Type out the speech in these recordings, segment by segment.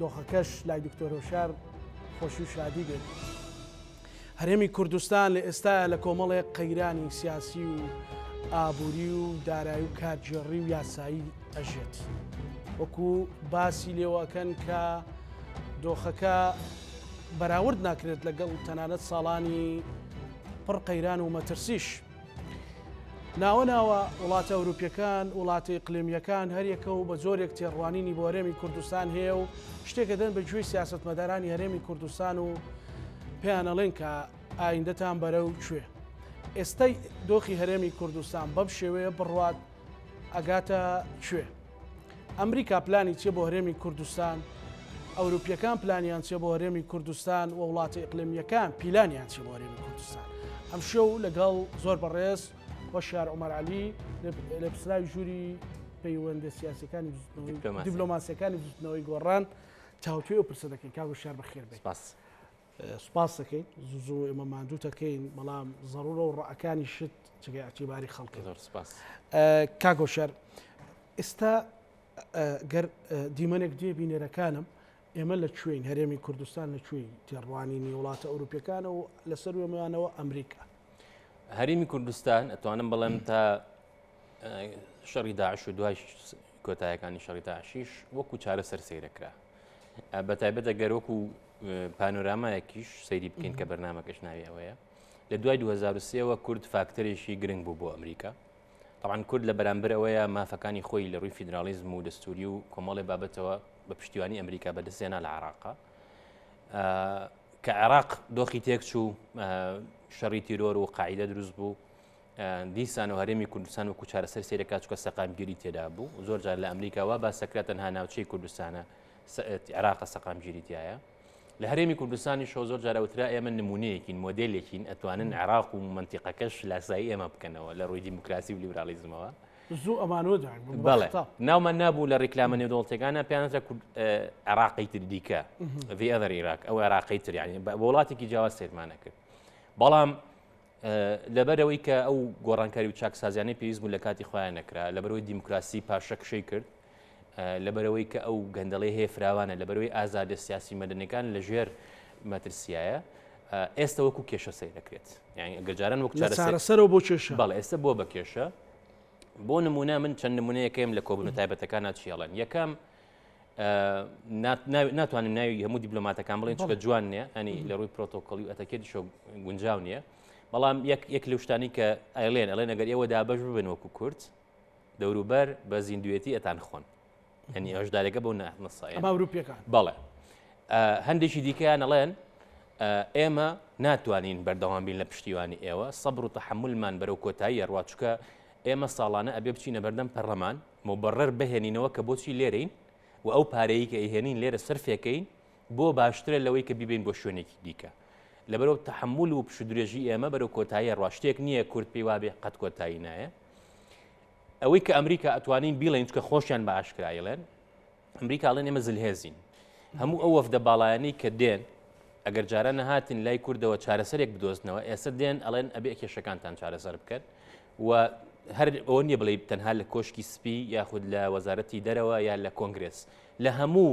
دۆخەکەش لای دکتۆر هۆشیار خۆشی و شادی بێت. هەرێمی کوردستان لە ئێستایا لە کۆمەڵێک قەیرانی سیاسی و ئابووری و دارایی و کارگێڕی و یاسایی ئەژێت. وەکو باسی لێوەکەن کە دۆخەکە بەراورد ناکرێت لەگەڵ تەنانەت ساڵانی پڕ قەیران و مەترسیش. ناوە ناوە وڵاتە ئەوروپیەکان وڵاتە ئیقلیمیەکان هەریەکە و بە جۆرێک تێڕوانینی بۆ هەرێمی کوردستان هەیە و شتێکە دەن بە گوێی سیاستمەدارانی هەرێمی کوردستان و پێیانەڵێن کە ئایندەتان بەرە و کوێ ئێستای دۆخی هەرێمی کوردستان بەم شێوەیە بڕوات ئەگاتە کوێ ئەمریکا پلانی چیە بۆ هەرێمی کوردستان؟ ئەوروپیەکان پلانیان چیە بۆ هەرێمی کوردستان و وڵاتە ئیقلمیەکان پیلانیان چی بۆ هەرێمی کوردستان؟ ئەم شو لەگەڵ زۆر بەڕێز وە شار عمر علی لە پسراوی ژووری پەیوەندە سیاسەکانی دیبلۆماسیەکانی بزنەوەی گۆڕان تاوتوێ و پرسە دەکەین کاگو شار بەخێر بێت. سوپاست دەکەین زوو زوو ئێمە ماندوو تەکەین بەڵام زەڕورە و ڕەکانی شت چگە ئەتیباری خەڵکە زۆر سپاس کاگۆشەر ئێستا گەر دیمەنێک دێ بینەرەکانم ئێمە لە کوێین هەرێمی کوردستان لە کوێی تێڕوانینی وڵاتە ئەوروپیەکانە و لەسەر وێمەیانەوە ئەمریکا هەرێمی کوردستان ئەتوانم بڵێم تا شەڕی داعش و دوای کۆتایەکانی شەڕی داعشیش وەکو چارەسەر سیرەکرا بە تایبەتە گەر وەکو پانۆرامایەکیش سەیری بکەین کە بەرنمەکەش ناوی ئەوەیە لە دوای 2023ەوە کورد فاکتەرێکی گرنگ بوو بۆ ئەمریکا طبعاان کورد لە بەرامبەر ئەوەیە مافەکانی خۆی لە ڕووی فیدراالیزم و دەستوری و کۆمەڵی بابەتەوە بە پشتیوانی ئەمریکا بەدەستێنا لە عراقا کە عێراق دۆخی تێکچوو شەڕی تیرۆر و قاعدە دروست بوو دیسان و هەرێمی کوردستان وەکو چارەسەر سێرەکە چکە سەقامگیری تێدا بوو زۆر جار لە ئەمریکا وا باسەکرا تەنها ناوچەی کوردستانە عێراقە سەقامگیری تایە لە هەرێمی کوردستانی شۆ زۆر جارەوترا ئێمە نمونەیەکین مۆدلێکین ئەتوانن عراق و منتیقەکەش لاسایی ئێمە بکەنەوە لە ڕووی دیموکراسی و لیبرالیزمەوە زوو ئەمانۆدا بەڵێ ناومان نابوو لە ڕیکلامە نێودڵتەکانە پێیانزە عراقی تر دیکە ڤێدەر عێراق ئەو عراقی تریانی بە وڵاتێکی جیاواز سێرمانە کرد بەڵام لەبەرەوەی کە ئەو گۆڕانکاری و چاکسازیانەی پێویست بوو لە کاتی خۆیان نەکرا لەبەرەوەی دیموکراسی پاشەکشەی کرد لەبەرەوەی کە ئەو گەندەڵی هەیە فراوانە لەبەرەوەی ئازادە سیاسی مەدنەکان لەژێر مەترسیایە ئێستا وەکو کێشە سەیر دەکرێت یعنی گەجاران وەک چارەسەرەوە بۆ کێشە بەڵ ئێستا بۆ بە کێشە بۆ نمونە من چەند نمونەیەکەیم لە کۆبن تایبەتەکان چیاڵن یەکەم ناتوانم ناوی هەموو دیبلۆماتەکان بڵێن چکە جوان نیە ئەنی لە ڕووی پرۆتۆکۆلی و ئەتەکێت شۆ گونجاو نییە بەڵام یەک لە شتانی کە ئایلێن ئەڵێن ئەگەر ئێوە دابش ببن وەکو کورد دەوروبەر بە زیندوێتی ئەتان خۆن هەنی هەشدارێکە بۆ نەسای باوروپیەکان بەڵێ هەندێکی دیکەیان ئەڵێن ئێمە ناتوانین بەردەوام بین لە پشتیوانی ئێوە سەبر و تەحملمان بەرەو کۆتایی ڕواچکە ئێمە ساڵانە ئەبێ بچینە بەردەم پەرلەمان موبڕر بهێنینەوە کە بۆچی لێرەین و ئەو پارەیەی کە ئەیهێنین لێرە سەرفێکەین بۆ باشترە لەوەی کە بیبەین بۆ شوێنێکی دیکە لەبەرو تەحمول و پشودرێژی ئێمە بەرەو کۆتایی ڕوا شتێک نییە کورد پێی وابێ قەت کۆتایی نایە ئەوەی کە ئەمریکا ئەتوانین بیڵێن چکە خۆشیان بە ئاشکرایڵێن ئەمریکا ئەڵێن ئێمە زلهێزین هەموو ئەو وەفدە باڵایانی کە دێن ئەگەر جارە نەهاتین لای کوردەوە چارەسەرێک بدۆزنەوە ئێستا دێن ئەڵێن ئەبێ کێشەکانتان چارەسەر بکەن و هەر ئەوە نیە بڵێ تەنها لە کۆشکی سپی یاخود لە وەزارەتی دەرەوە یا لە کۆنگرس لە هەموو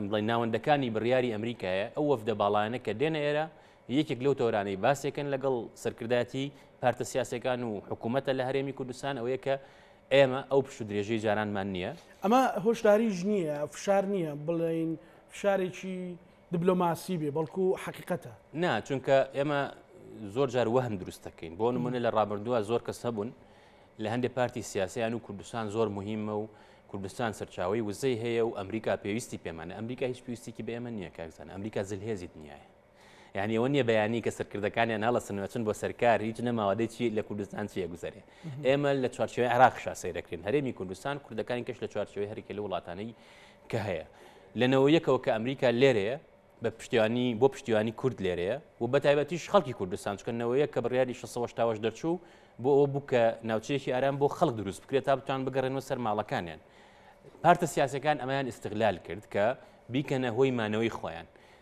بڵێ ناوەندەکانی بڕیاری ئەمریکایە ئەو وەفدە باڵانە کە دێنە ئێرە یەکێک لەو تۆرانەی باسێکن لەگەڵ سەرکردایەتی پارتە سیاسەکان و حکوومەتە لە هەرێمی کوردستان ئەوەیە کە ئێمە ئەو پشت و درێژەی جارانمان نییە. ئەمە هۆشداریش نییە، فشار نییە بڵێین فشارێکی دبلۆماسی بێ، بەڵکو حەقیقەتە. نا، چونکە ئێمە زۆر جار وەهم دروست دەکەین. بۆ نمونە لە ڕابردووە زۆر کەس هەبوون لە هەندێک پارتی سیاسیان و کوردستان زۆر مهمە و کوردستان سەرچاوی وزەی هەیە و ئەمریکا پێویستی پێمانە ئەمریکا هیچ پێویستێکی بە ئێمە نییە کاکزان ئەمریکا زلهێزی دنیاە یانی ئەوە نیە بەیانی کە سەرکردەکانیان هەڵەسن وەچن بۆ سەرکار هیچ نەماوە دەی چی لە کوردستان چیە گوزەرێ ئێمە لە چوارچێوی عراقشا سەیرەکرین هەرێمی کوردستان کوردەکانی کەش لە چوارچێوی هەرکە لە وڵاتانەی کە هەیە لەنەوە یەکەوە کە ئەمریکا لێرەیە بە پشتیوانی بۆ پشتیوانی کورد لێرەیە و بە تایبەتیش خەڵکی کوردستان چکەنەوەیە کە بڕیاری 16 دەرچوو بۆ ئەو بوو کە ناوچەیەکی ئارام بۆ خەڵک دروست بکرێت تا بتوان بگەڕێنەوە سەر ماڵەکانیان پارتە سیاسەکان ئەمەیان ئیسیغلال کرد کە بیکەنە هۆی مانەوەی خۆیان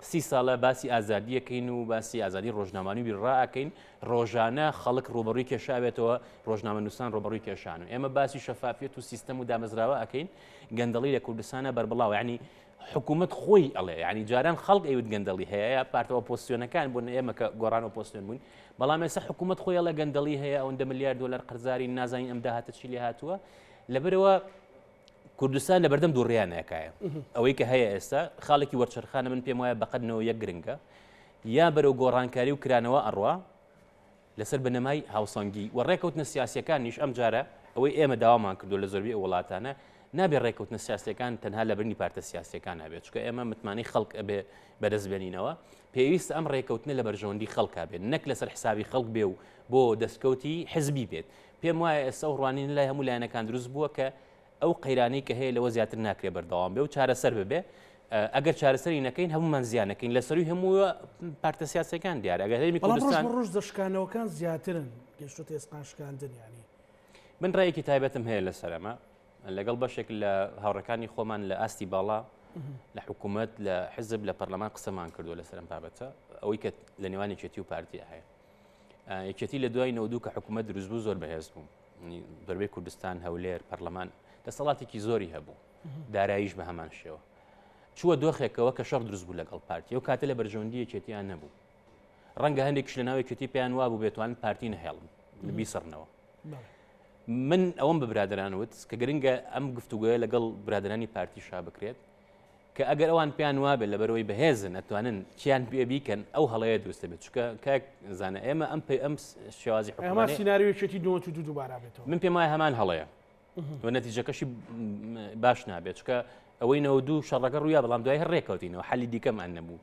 سی ساڵە باسی ئازادی یەکەین و باسی ئازادی ڕۆژنامانی بیر ڕائەکەین ڕۆژانە خەڵک ڕوبڕی کێشاوێتەوە ڕۆژنامە نووسان ڕۆبڕی کێشان و ئێمە باسی شەفافیت و سیستەم و دامەزراوە ئەەکەین گەندەڵی لە کوردستانە بەربڵاو ینی حکوومەت خۆی ئەڵێ ینی جاران خەڵک ئەوت گەندەڵی هەیە پارتەوە پۆسیۆنەکان بوون ئێمە کە گۆڕان و پۆستێن بوون بەڵام ێستا حکوومەت خۆی ئەڵە گەندەڵی هەیە ئەوەندە ملیار دلار قەرزاری نازانین ئەم داهاتە چی لێ هاتووە لەبەرەوە کوردستان لە بەردەم دووڕیانەکایە ئەوەی کە هەیە ئێستا خاڵێکی وەرچەرخانە من پێم وایە بەقەتنەوە یەک گرنگە یا بەرەو گۆڕانکاری و کرانەوە ئەڕوا لەسەر بنەمای هاوسەنگی و ڕێکەوتنە سیاسەکانیش ئەم جارە ئەوەی ئێمە داوامان کردو لە زۆربی ئەو وڵاتانە نابێ ڕێکەوتنە سیاسەکان تەنها لە برنی پارتە سیاسەکان نابێت چکە ئێمە متمانەی خەڵک ئەبێ بەدەستبێنینەوە پێویستە ئەم ڕێکەوتنە لە بەرژەوەندی خەڵکا بێت نەک لەسەر حسابی خەڵک بێ و بۆ دەستکەوتی حزبی بێت پێم وایە ئێستا ئەو ڕوانینە لای هەموو لایەنەکان دروست بووە کە ئەو قەیرانەی کە هەیە لەوە زیاتر ناکرێ بەردەوام بێ و چارەسەر ببێ ئەگەر چارەسەری نەکەین هەمومان زیانەکەین لە سەروی هەموو پارتە سیاسەکان دیار ئەگەر هەرمی کوردستان ڕژ دەشکانەوەکان زیاترن گەشتە تێسقان شکاندن ینی من ڕێکی تایبەتم هەیە لە سەرمە لەگەڵ بەشێک لە هاوڕەکانی خۆمان لە ئاستی باڵا لە حکوومەت لە حزب لە پەرلەمان قسەمان کردو لە سەرم بابەتە ئەوەی کە لە نێوانی چێتی و پارتی هەیە یەکێتی لە دوای نەودوو کە حکوومەت دروست بوو زۆر بەهێز بوو دەربەی کوردستان هەولێر پەرلەمان دەسەڵاتێکی زۆری هەبوو داراییش بە هەمان شێوە چووە دۆخێکەوە کە شەڕ دروست بوو لەگەڵ پارتی و کاتە لە بەرژەوەندی یەکێتیان نەبوو ڕەنگە هەندێکش لە ناوێکێتی پێیان وابوو بێتوان پارتی نەهێڵن بیسڕنەوە من ئەوەم بە برادران وت کە گرنگە ئەم گفتوگوۆە لەگەڵ برادرانی پارتی شا بکرێت کە ئەگەر ئەوان پێیان وابێت لە بەرەوەی بەهێزن ئەتوانن چیان پێ بیکەن ئەو هەڵەیە دروستە بێت چکە کاک زانە ئێمە ئەم پێ ئەم شێوازی حکومان سینناریوێکی دو دو دووبارە بێت من پێم وای هەمان هەڵەیە و نەتیجەکەشی باش نابێت چکە ئەوەی نەوە دوو شەڕەکە ڕوویا بەڵام دوای هەر ڕێکەوتینەوە حەلی دیکەمان نەبوو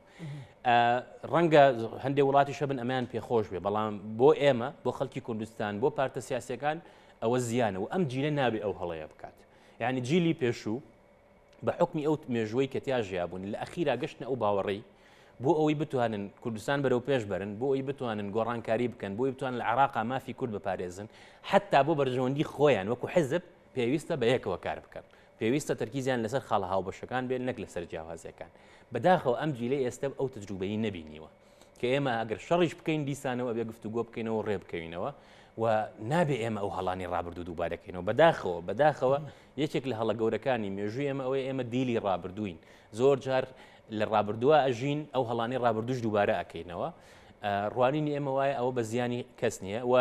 ڕەنگە هەندێک وڵاتی شەبن ئەمیان پێخۆش بێ بەڵام بۆ ئێمە بۆ خەڵکی کوردستان بۆ پارتە سیاسەکان ئەوە زیانە و ئەم جیلە نابێ ئەو هەڵەیە بکات یعنی جیلی پێشوو بە حکمی ئەو مێژوەی کە تیا ژیابوون لە ئەخیرا گەشتنە ئەو باوەڕی بۆ ئەوەی بتوانن کوردستان بەرەو پێش بەرن بۆ ئەوی بتوانن گۆڕانکاری بکەن بۆی بتوان لە عراقا مافی کورد بپارێزن حتا بۆ بەرژەوەندی خۆیان وەکو حزب پێویستە بە یەکەوە کار بکەن پێویستە تەرکیزیان لەسەر خاڵە هاوبەشەکان بێت نەک لەسەر جیاوازیەکان بەداخەوە ئەم جیلەی ئێستا ئەو تجروبەی نەبینیوە کە ئێمە ئەگەر شەڕیش بکەین دیسانەوە ئەبێ گفتوگۆ بکەینەوە ڕێ بکەوینەوە و نابێ ئێمە ئەو هەڵانی ڕابردوو دووبارەکەینەوە بەداخەوە بەداخەوە یەکێک لە هەڵە گەورەکانی مێژووی ئەمە ئەوەی ئێمە دیلی ڕابردووین زۆر جار لە ڕابردووە ئەژین ئەو هەڵانی ڕابردوش دووبارە ئەکەینەوە ڕوانینی ئێمە وایە ئەوە بە زیانی کەس نییە و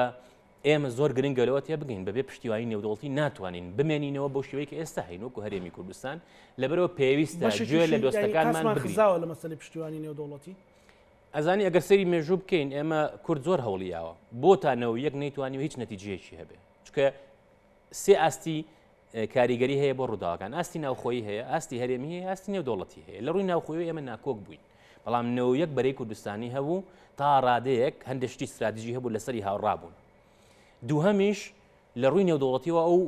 ئێمە زۆر گرنگە لەوە تێبگەین بەبێ پشتیوانی نێودەوڵەتی ناتوانین بمێنینەوە بەو شێوەی کە ئێستا هەین وەکو هەرێمی کوردستان لەبەرەوە پێویستە گوێ لە دۆستەکانمان بگرین لە مەسەلی پشتیوانی نێودەوڵەتی ئەزانی ئەگەر سەری مێژوو بکەین ئێمە کورد زۆر هەوڵیاوە بۆتانەوە یەک نەیتوانی و هیچ نەتیجەیەکی هەبێ چکە سێ ئاستی کاریگەری هەیە بۆ ڕووداوەکان ئاستی ناوخۆی هەیە ئاستی هەرێمی هەیە ئاستی نێودوڵەتی هەیە لە ڕووی ناوخۆی ئێمە ناکۆک بووین بەڵام نەوە یەک بەرەی کوردستانی هەبوو تا ڕادەیەک هەندشتی استراتیژی هەبوو لەسەری هاوڕابوون دووهەمیش لە ڕووی نێودوڵەتیەوە ئەو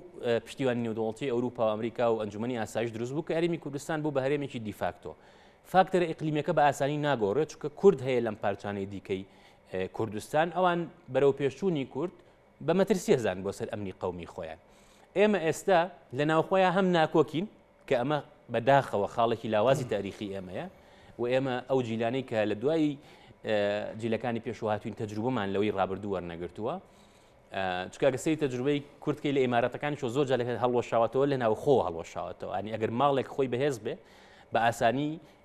پشتیوانی نێودوڵەتی ئەوروپا و ئەمریکا و ئەنجومی ئاسایش دروست بوو کە هەرمی کوردستان بوو بە هەرێمێکی دیفاکتۆ فاکتەرە ئیقلیمەکە بە ئاسانی ناگۆڕێت چکە کورد هەیە لەم پارچانەی دیکەی کوردستان ئەوان بەرەو پێشچوونی کورد بە مەترسی هەزان بۆ سەر ئەمنی قەومی خۆیان. ئێمە ئێستا لە ناوخۆیان هەم ناکۆکین، کە ئەمە بە داخەوە خاڵێکی لاوازی تاریخی ئێمەیە و ئێمە ئەو جیلانەی کە لە دوای جیلەکانی پێشوە هاتوین تەجروبەمان لەوەی ڕابردوو وەرنەگرتووە. چکاگە سری تەجروبەی کورتکەی لە ئیمارەتەکانی چۆ زۆر جالەکە هەڵوەشاوەتەوە لە ناوخۆ هەڵوەشاوەتەوە ئەنی ئەگەر ماڵێک خۆی بەهێز بێ بە ئاسانی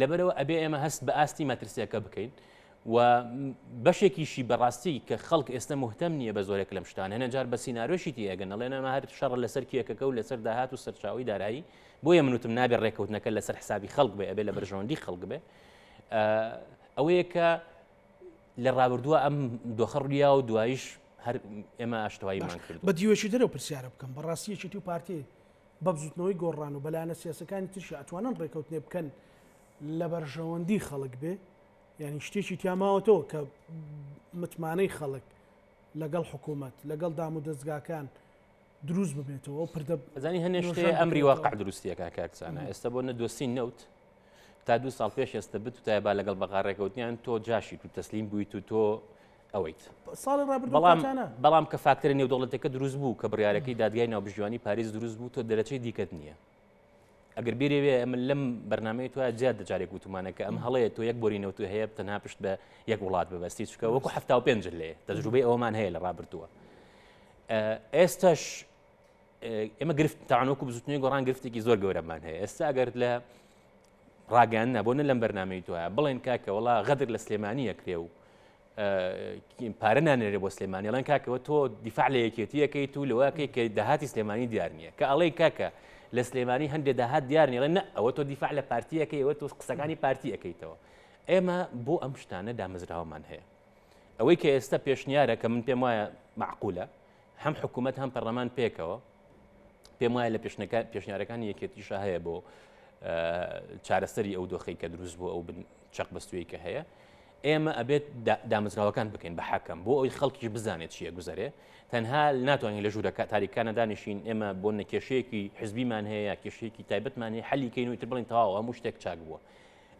لەبەرەوە ئەبێ ئێمە هەست بە ئاستی مەترسیەکە بکەین و بەشێکیشی بەڕاستی کە خەڵک ئێستا مهتەم نییە بە زۆرێک لەم شتان هەنە جار بە سینناارۆشی تیەگەن لەێنەمە هەر شەڕ لەسەر کیەکەکە و لەسەر داهات و سەرچاوی دارایی بۆیە منوتم نابێ ڕێککەوتنەکە لەسەر حسابی خەڵک بێ ئەبێ لە بەرژەوەندی خەڵک بێ ئەوەیە کە لە ڕابردووە ئەم دۆخە ڕیا و دوایش هەر ئێمە ئاشتواییمان کرد بە دیوەشی دەرەوە پرسیارە بکەم بەڕاستیەکی تو پارتی بە بزوتنەوەی گۆڕان و بە لایەنە سیاسەکانی ترشا ئەتوانن ڕێکەوتنێ بکەن لە بەرژەوەندی خەڵک بێ یعنی شتێکی تیاماوەتەوە کە متمانەی خەڵک لەگەڵ حکوومەت لەگەڵ دام و دەستگاکان دروست ببێتەوە و پردە زانی هەنێ شتێ ئەمری واقع دروستیەکە کاکسانە ئێستا بۆ نەدۆستی نەوت تا دو ساڵ پێش ئێستا بت تا با لەگەڵ بەغاڕێکەوتنیان تۆ جاشی تو تەسلیم بوویت و تۆ ئەوەیت. ساڵی ڕابردوو بەڵام کاتانە. بەڵام کە فاکتەرە نێودەوڵەتەکە دروست بوو کە بڕیارەکەی دادگای ناوبژیوانی پاریس دروست بوو تۆ دەرەچەی دیکەت نییە. ئەگەر بیرێوێ ئەمە لەم بەرنمەی تو زیاد دەجارێک وتومانەکە ئەم هەڵەیە تۆ یەک بۆری نەوتو هەیە تەنها پشت بە یەک وڵات ببەستی چکە وەکو ه پێنج لێ تەجروبەی ئەومان هەیە لە ڕابردووە ئێستش ئێمە گرفت تاانوەکو بزوتنی گۆڕان گرفتێکی زۆر گەورەمان هەیە ئێستا ئەگەر لە ڕاگەیاندنە بۆ نە لەم بەرنامەی دوایە بڵێن کاکە وڵا غەدر لە سلێمانی ئەکرێ و پارە نانێرێ بۆ سلێمانی ئەڵەن کاکەوە تۆ دیفاع لە یەکێتیەکەیت و لەوەکەی کە داهاتی سلێمانی دیار نییە کە ئەڵەی کاکە لە سلێمانی هەندێک داهات دیار نیڵێن نە ئەوە تۆ دیفاع لە پارتیەکەی ئەوە تۆ قسەکانی پارتی ئەەکەیتەوە ئێمە بۆ ئەم شتانە دامەزراوەمان هەیە ئەوەی کە ئێستا پێشنیارە کە من پێم وایە معقولە هەم حکوومەت هەم پەرلەمان پێکەوە پێم وایە لە پێشنیارەکانی یەکێتیشە هەیە بۆ چارەسەری ئەو دۆخی کە دروست بۆ ئەو چەق بەستوی کە هەیە ئێمە ئەبێت دامزراوەکان بکەین بە حەکەم بۆ ئەوی خەڵکیش بزانێت چیە گوزارێ تەنها ناتوانین لە ژوورەکە تاریکانە دانیشین ئێمە بۆ نەکێشەیەکی حزبیمان هەیە کێشەیەکی تایبەتمان هەیە حەلیکەین و تر بڵین تەواو هەموو شتێک چاک بووە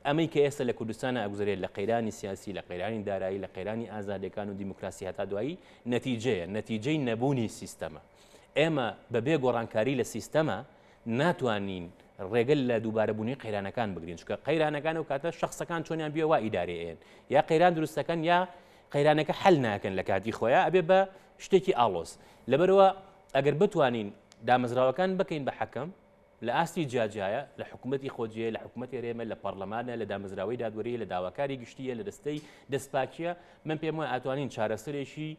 ئەمەی کە ئێستا لە کوردستانا ئەگوزەرێت لە قەیرانی سیاسی، لە قەیرانی دارایی، لە قەیرانی ئازادیەکان و دیموکراسی هەتا دوایی، نەتیجەیە، نەتیجەی نەبوونی سیستەمە. ئێمە بە بێ گۆڕانکاری لە سیستەما ناتوانین ڕێگە لە دووبارە بوونی قەیرانەکان بگرین، چونکە قەیرانەکان ئەو کاتە شەخسەکان چۆنیان بیە وا ئیدارەی ئەیەن، یا قەیران دروست دەکەن یا قەیرانەکە حەل ناکەن لە کاتی خۆیان ئەبێ بە شتێکی ئاڵۆز. لەبەرەوە ئەگەر بتوانین دامەزراوەکان بکەین بە حەکەم، لە ئاستی جیاجیایە، لە حکومەتی خۆجێیە، لە حکومەتی هەرێمە، لە پەڕلەمانە، لە دامەزراوەی دادوەرییە، لە داواکاری گشتییە، لە دەستەی دەستپاکییە، من پێم وایە ئەتوانین چارەسەرێکی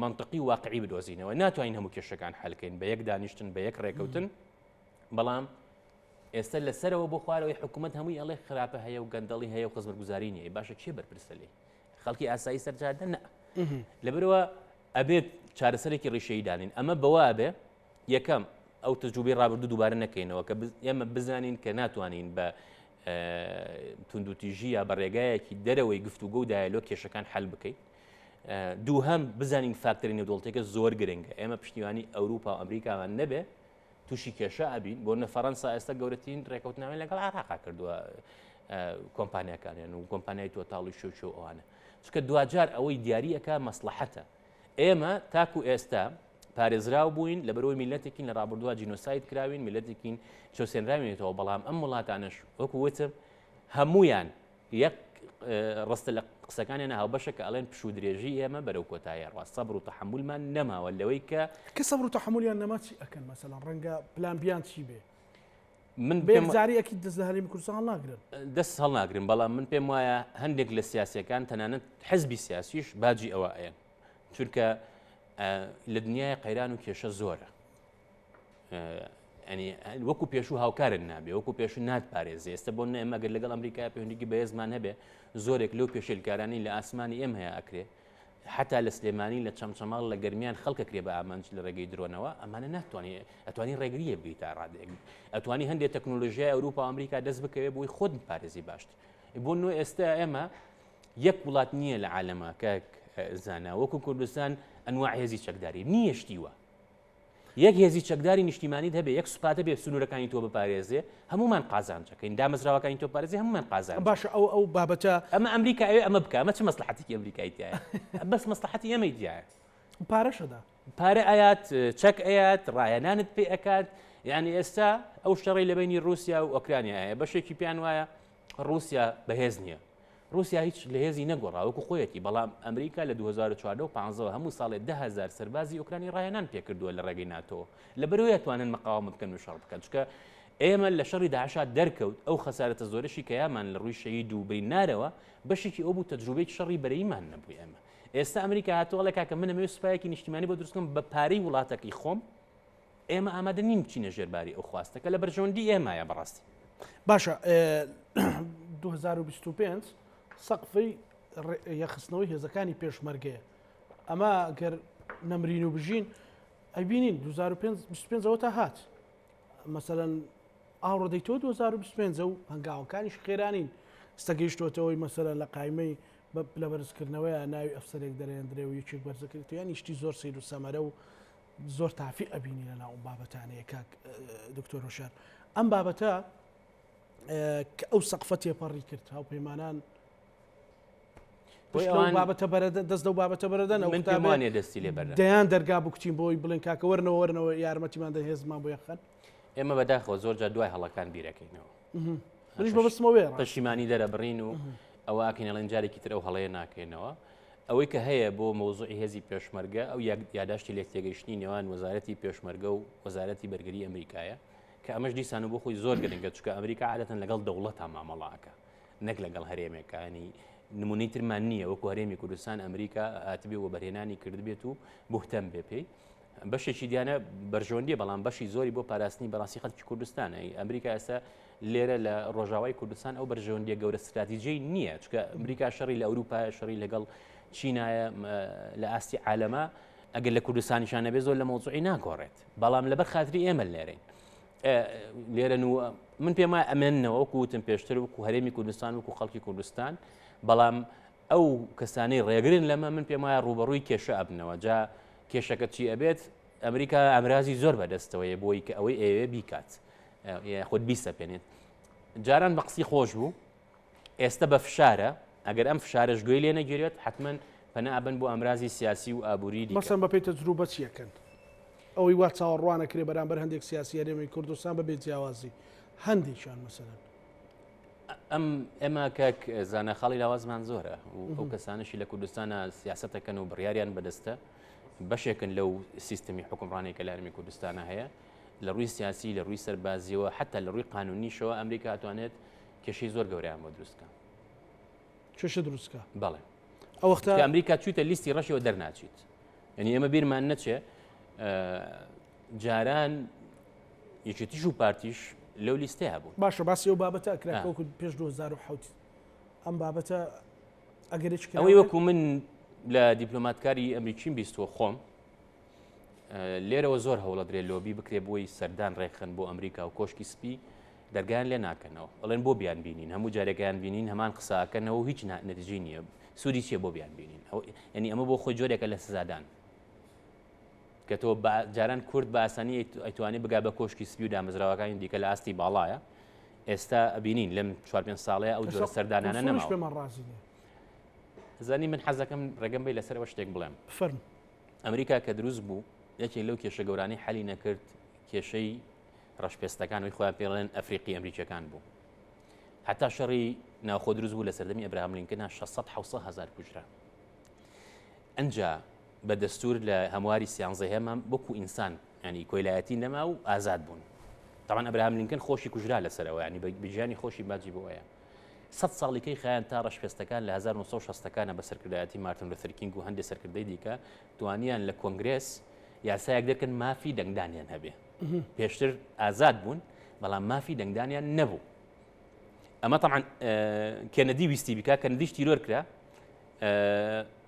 مەنتقی و واقعی بدۆزینەوە، ناتوانین هەموو کێشەکان حەلکەین بە یەک دانیشتن بە یەک ڕێکەوتن، بەڵام ئێستا لە سەرەوە بۆ خوارەوەی حکومت هەمووی ئەڵێ خراپە هەیە و گەندەڵی هەیە و خزمەتگوزاری نیە باشە کێ بەرپرسە لێ خەڵکی ئاسایی سەرجادە نە لەبەرەوە ئەبێت چارەسەرێکی ڕیشەی دانین ئەمە بەوە ئەبێ یەکەم، ئەو تەجروبەی ڕابردوو دووبارە نەکەینەوە کە ئێمە بزانین کە ناتوانین بە توندوتیژی یا بە ڕێگایەکی دەرەوەی گفتوگە و دایلۆ کێشەکان حل بکەیت. دووهەم بزانین فاکتەری نێودوڵتێکە زۆر گرنگە ئێمە پشتیوانی ئەوروپا و ئەمریکامان نەبێ تووشی کێشە ئەبین بۆ نە فەەنسا ئێستا گەورەترین ڕێکوتناوی لەگەڵ عراقا کردووە کۆمپانیەکانیان و کۆمپانیای تۆتاڵی شوچۆ ئەوانە چکە دوجار ئەوەی دیارریەکە مەسلحەتە ئێمە تاکو ئێستا پارێزراو بووین لە بەرەوەی میلەتێکین لە ڕابردووە جینۆساید کراوین میلەتێکین چۆسێنراوێتەوە بەڵام ئەم وڵاتانش وەکو وتم هەمویان یەک ڕستە لە قسەکانیان هاوبەشە کە ئەڵێن پشو درێژی ئێمە بەرەو کۆتایە ڕاست سەبر و تەحملمان نەماوە لەوەی کە کە سەبر و تەحملیان نەماچی ئەکەن مەسەلا ڕەنگە پلان بیان چی بێ من پێم زاری ئەکید دەست لە هەرێمی کوردستان هەڵناگرن دەست هەڵناگرن بەڵام من پێم وایە هەندێک لە سیاسەکان تەنانەت حزبی سیاسیش باجی ئەوە ئەیەن چونکە لە دنیای قەیران و کێشە زۆرە ئەنی وەکو پێشوو هاوکارن نابێ وەکو پێشو نات پارێزی ئێستا بۆ نەمەگەر لەگەڵ ئەمریکای پێوەندیکی بەێزمان هەبێ زۆرێک لەو پێشلکارانی لە ئاسمانی ئێم هەیە ئەکرێ حەتا لە سلێمانی لە چەمچەماڵ لە گەرمیان خەڵک ئەکرێ بە ئامانج لە ڕێگەی درۆنەوە ئەمانە ناتوانێت ئەتوانی ڕێگری لێ بگری تا ڕادێک ئەتوانی هەندێک تەکنۆلۆژیای ئەوروپا ئەمریکا دەست بکەوێت بۆی خۆت پارێزی باشتر بۆ نۆ ئێستا ئێمە یەک وڵات نییە لە عالەمە کە زانا وەکو کوردستان ئەنوا هێزی چەکداری نییە شتیوە یەک هێزی چەکداری نیشتیمانیت هەبێ یەک سوپات هەبێ سنوورەکانی تۆ بپارێزێ هەموومان قازانجەکەین دامەزراوەکانی تۆ بپارێزێ هەموومان قازانجین. باشە ئەو ئەو بابەتە. ئەمە ئەمریکا ئەوێ ئەمە بکا ئەمە چ مەسلەحەتێکی ئەمریکای تیایە بەس مەسلەحەتی ئێمەی تیایە. پارەش ئەدا. پارە ئەیات چەک ئەیات ڕایەنانت پێ ئەکات یعنی ئێستا ئەو شەڕی لە بینی ڕوسیا و ئۆکرانیا هەیە بەشێکی پێیان وایە ڕوسیا بەهێز نییە ڕوسیا هیچ لە هێزی نەگۆڕا وەکو خۆیەتی، بەڵام ئەمریکا لە دوو هەزار و چواردە و پانزەوە هەموو ساڵێ دە هەزار سەربازی ئۆکرانی ڕاهێنان پێکردووە لە ڕێگەی ناتۆ، لەبەرئەوەی ئەتوانن مقاوەمە بکەن و شەڕ بکەن، چونکە ئێمە لە شەڕی داعشا دەرکەوت ئەو خەسارەتە زۆرەشی کە یامان لە ڕووی شەهید و برینارەوە بەشێکی ئەو بوو تەجروبەی شەڕی بەرەیمان نەبوو ئێمە ئێستا ئەمریکا هاتووە ئەڵێ کاکە من ئەمەوێ سوپایەکی نیشتیمانی بۆ دروستکەم بە پارەی وڵاتەکەی خۆم ئێمە ئامادە نین بچینە ژێر باری ئەو خواستە کە لە بەرژەوەندی ئێمایە بەڕاستی. باشە 2025 سەقفی یەخستنەوەی هێزەکانی پێشمەرگەیە ئەمە گەر نەمرین و بژین ئەبینین 2025ەوە تا هات مەسەەن ئاوڕدەیتەوە 2025 و هەنگاوەکانیش خێرانین ستەگەیشتوەتەوەی مەسەرە لە قایمەی لە بەرزکردنەوەی ناوی ئەفسەرێک دەرێندرێ و یەکێک بەرزەکردیان نیشتی زۆر سیر و سەمەرە و زۆر تافی ئەبینی لە ناو ئەم بابەتانەیە کاک دکتۆر هۆشار ئەم بابەتە کە ئەو سەقفە تێپەڕی کرد هاو پەیمانان بابەتە بەرەدە دەست لەو بابەتە بەرەدەن ئەو منتامانێ دەستی لێ بەر دەیان دەرگا بکچین بۆی بڵێن کاکەوەرنەوەرنەوە یارمەتیمان دە هێزمان بۆ یەخەن ئێمە بەداخەوە زۆر جا دوای هەڵەکان بیرەکەینەوە پەشیمانی دەرەبڕین و ئەوە ئاکەین ئەڵێن جارێکی تر ئەو هەڵەیە ناکەینەوە ئەوەی کە هەیە بۆ مەوزوعی هێزی پێشمەرگە ئەو یاداشتی لێک تێگەیشتنی نێوان وەزارەتی پێشمەرگە و وەزارەتی بەرگری ئەمریکایە کە ئەمەش دیسان و بۆ خۆی زۆر گرنگە چکە ئەمریکا عادەتەن لەگەڵ دەوڵەتە مامەڵاکە نەک لەگەڵ هەرێمێکانی نمونەی ترمان نییە وەکو هەرێمی کوردستان ئەمریکا هاتبێ و بەرهێنانی کردبێت و بهتەم بێ پێی بەشێکی دیانە بەرژەوەندیە بەڵام بەشی زۆری بۆ پاراستنی بەڕاستی خەڵکی کوردستانە ئەمریکا ئێستا لێرە لە ڕۆژاوای کوردستان ئەو بەرژەوەندیە گەورە استراتیجی نییە چکە ئەمریکا شەڕی لە ئەوروپا شەڕی لەگەڵ چینایە لە ئاستی عالەما ئەگەر لە کوردستانیشان نەبێ زۆر لە مۆزوعی ناگۆڕێت بەڵام لەبەر خاتری ئێمە لێرەین لێرە و من پێما ئەمێنەوە وەکوتم پێشتر وکو هەرێمی کوردستان وکو خەڵکی کوردستان بەڵام ئەو کەسانەی ڕێگرن لەمە من پێم وایە ڕووبەڕووی کێشە ئەبنەوە جا کێشەکە چی ئەبێت ئەمریکا ئامرازی زۆر بەدەستەوەیە بۆی کە ئەوەی ئەوێ بیکات خود بیسەپێنێت جاران بە قسی خۆش بوو ئێستا بە فشارە ئەگەر ئەم فشارش گوێی لێ نەگیرێت حتمما پەنا ئەبن بۆ ئامرازی سیاسی و ئابووری دیکەسەن بەپی تەجروبە چیەکەن ئەوەی وا چاوەڕوانەکرێ بەرامبەر هەندێک سیاسی هەرێمی کوردستان بە بێ جیاوازی هەندێکیان مەسەرەن ئەم ئێمە کاک زانە خاڵی لاوازمان زۆرە و ئەو کەسانشی لە کوردستانە سیاستەکەن و بڕیاریان بەدەستە بەشێکن لەو سیستمی حکومڕانی کە لە هەرمی کوردستانە هەیە لە ڕووی سیاسی لە ڕووی سەربازیەوە حتا لە ڕووی قانونیشەوە ئەمریکا توانێت کێشەی زۆر گەوریان بۆ دروستکە کێشە دروستکە بەڵێ ئەوەختە ئەمریکا چیتە لیستی ڕەشەوە دەرناچیت یعنی ئەمە بیرمان نەچێ جاران یەکێتیش و پارتیش لەو لیستەیە بوو باشە باسی ئەو بابەتە ئەکرێتوەکو پێش 2010 ئەم بابەتە ئەگەرێک ئەوەی وەکو من لە دیپلۆماتکاری ئەمریکیم بیستوە خۆم لێرەوە زۆر هەوڵە درێ لۆبی بکرێ بۆی سەردان ڕێکخن بۆ ئەمریکا و کۆشکی سپی دەرگیان لێ ناکەنەوە ئەڵێن بۆ بیان بینین هەموو جارێکیان بینین هەمان قساکەنەوە هیچ نەتیجی نییە سووری چیە بۆ بیان بینین ئەو ینی ئەمە بۆ خۆی جۆرێکە لە سزادان کە تۆ بە جاران کورد بە ئاسانی ئەتوانی بگا بە کۆشکی سپی و دامەزراوەکانی دیکە لە ئاستی باڵایە ئێستا ئەبینین لەم چوار پێنج ساڵێ ئەو جۆرە سەردانانە نەماش پێمان ڕازی نیە زانی من حەزەکەم ڕێگەم بی لەسەرەوە شتێک بڵێم فەرم ئەمریکا کە دروست بوو یەکێک لەو کێشە گەورانی حەلی نەکرد کێشەی ڕەشپێستەکانەوەی خۆیان پێڵێن ئەفریقی ئەمریکیەکان بوو هەتا شەڕی ناوخۆ دروست بوو لە سەردەمی ئەبراهام لینکنا 600 هزار کوژرا ئەجا بە دەستور لە هەمواری سیانزەهەمە وەکو ئینسان ینی کۆیلایەتی نەما و ئازاد بوون تاوان ئەبراهام لینکن خۆشی کوژرا لەسەرەوە ینی بەگیانی خۆشی باجی بۆیە سە ساڵیکەی خیان تا ڕشپێستەکان لە 1960ەکانە بە سەرکردایەتی مارتن لە سەرکینگ و هەندێک سەرکردەی دیکە توانیان لە کۆنگرس یاسایەک دەکەن مافی دەنگدانیان هەبێ پێشتر ئازاد بوون بەڵام مافی دەنگدانیان نەبوو ئەمە تەعاان کێنەدی ویستی بکە کەندیش تیرۆر کرا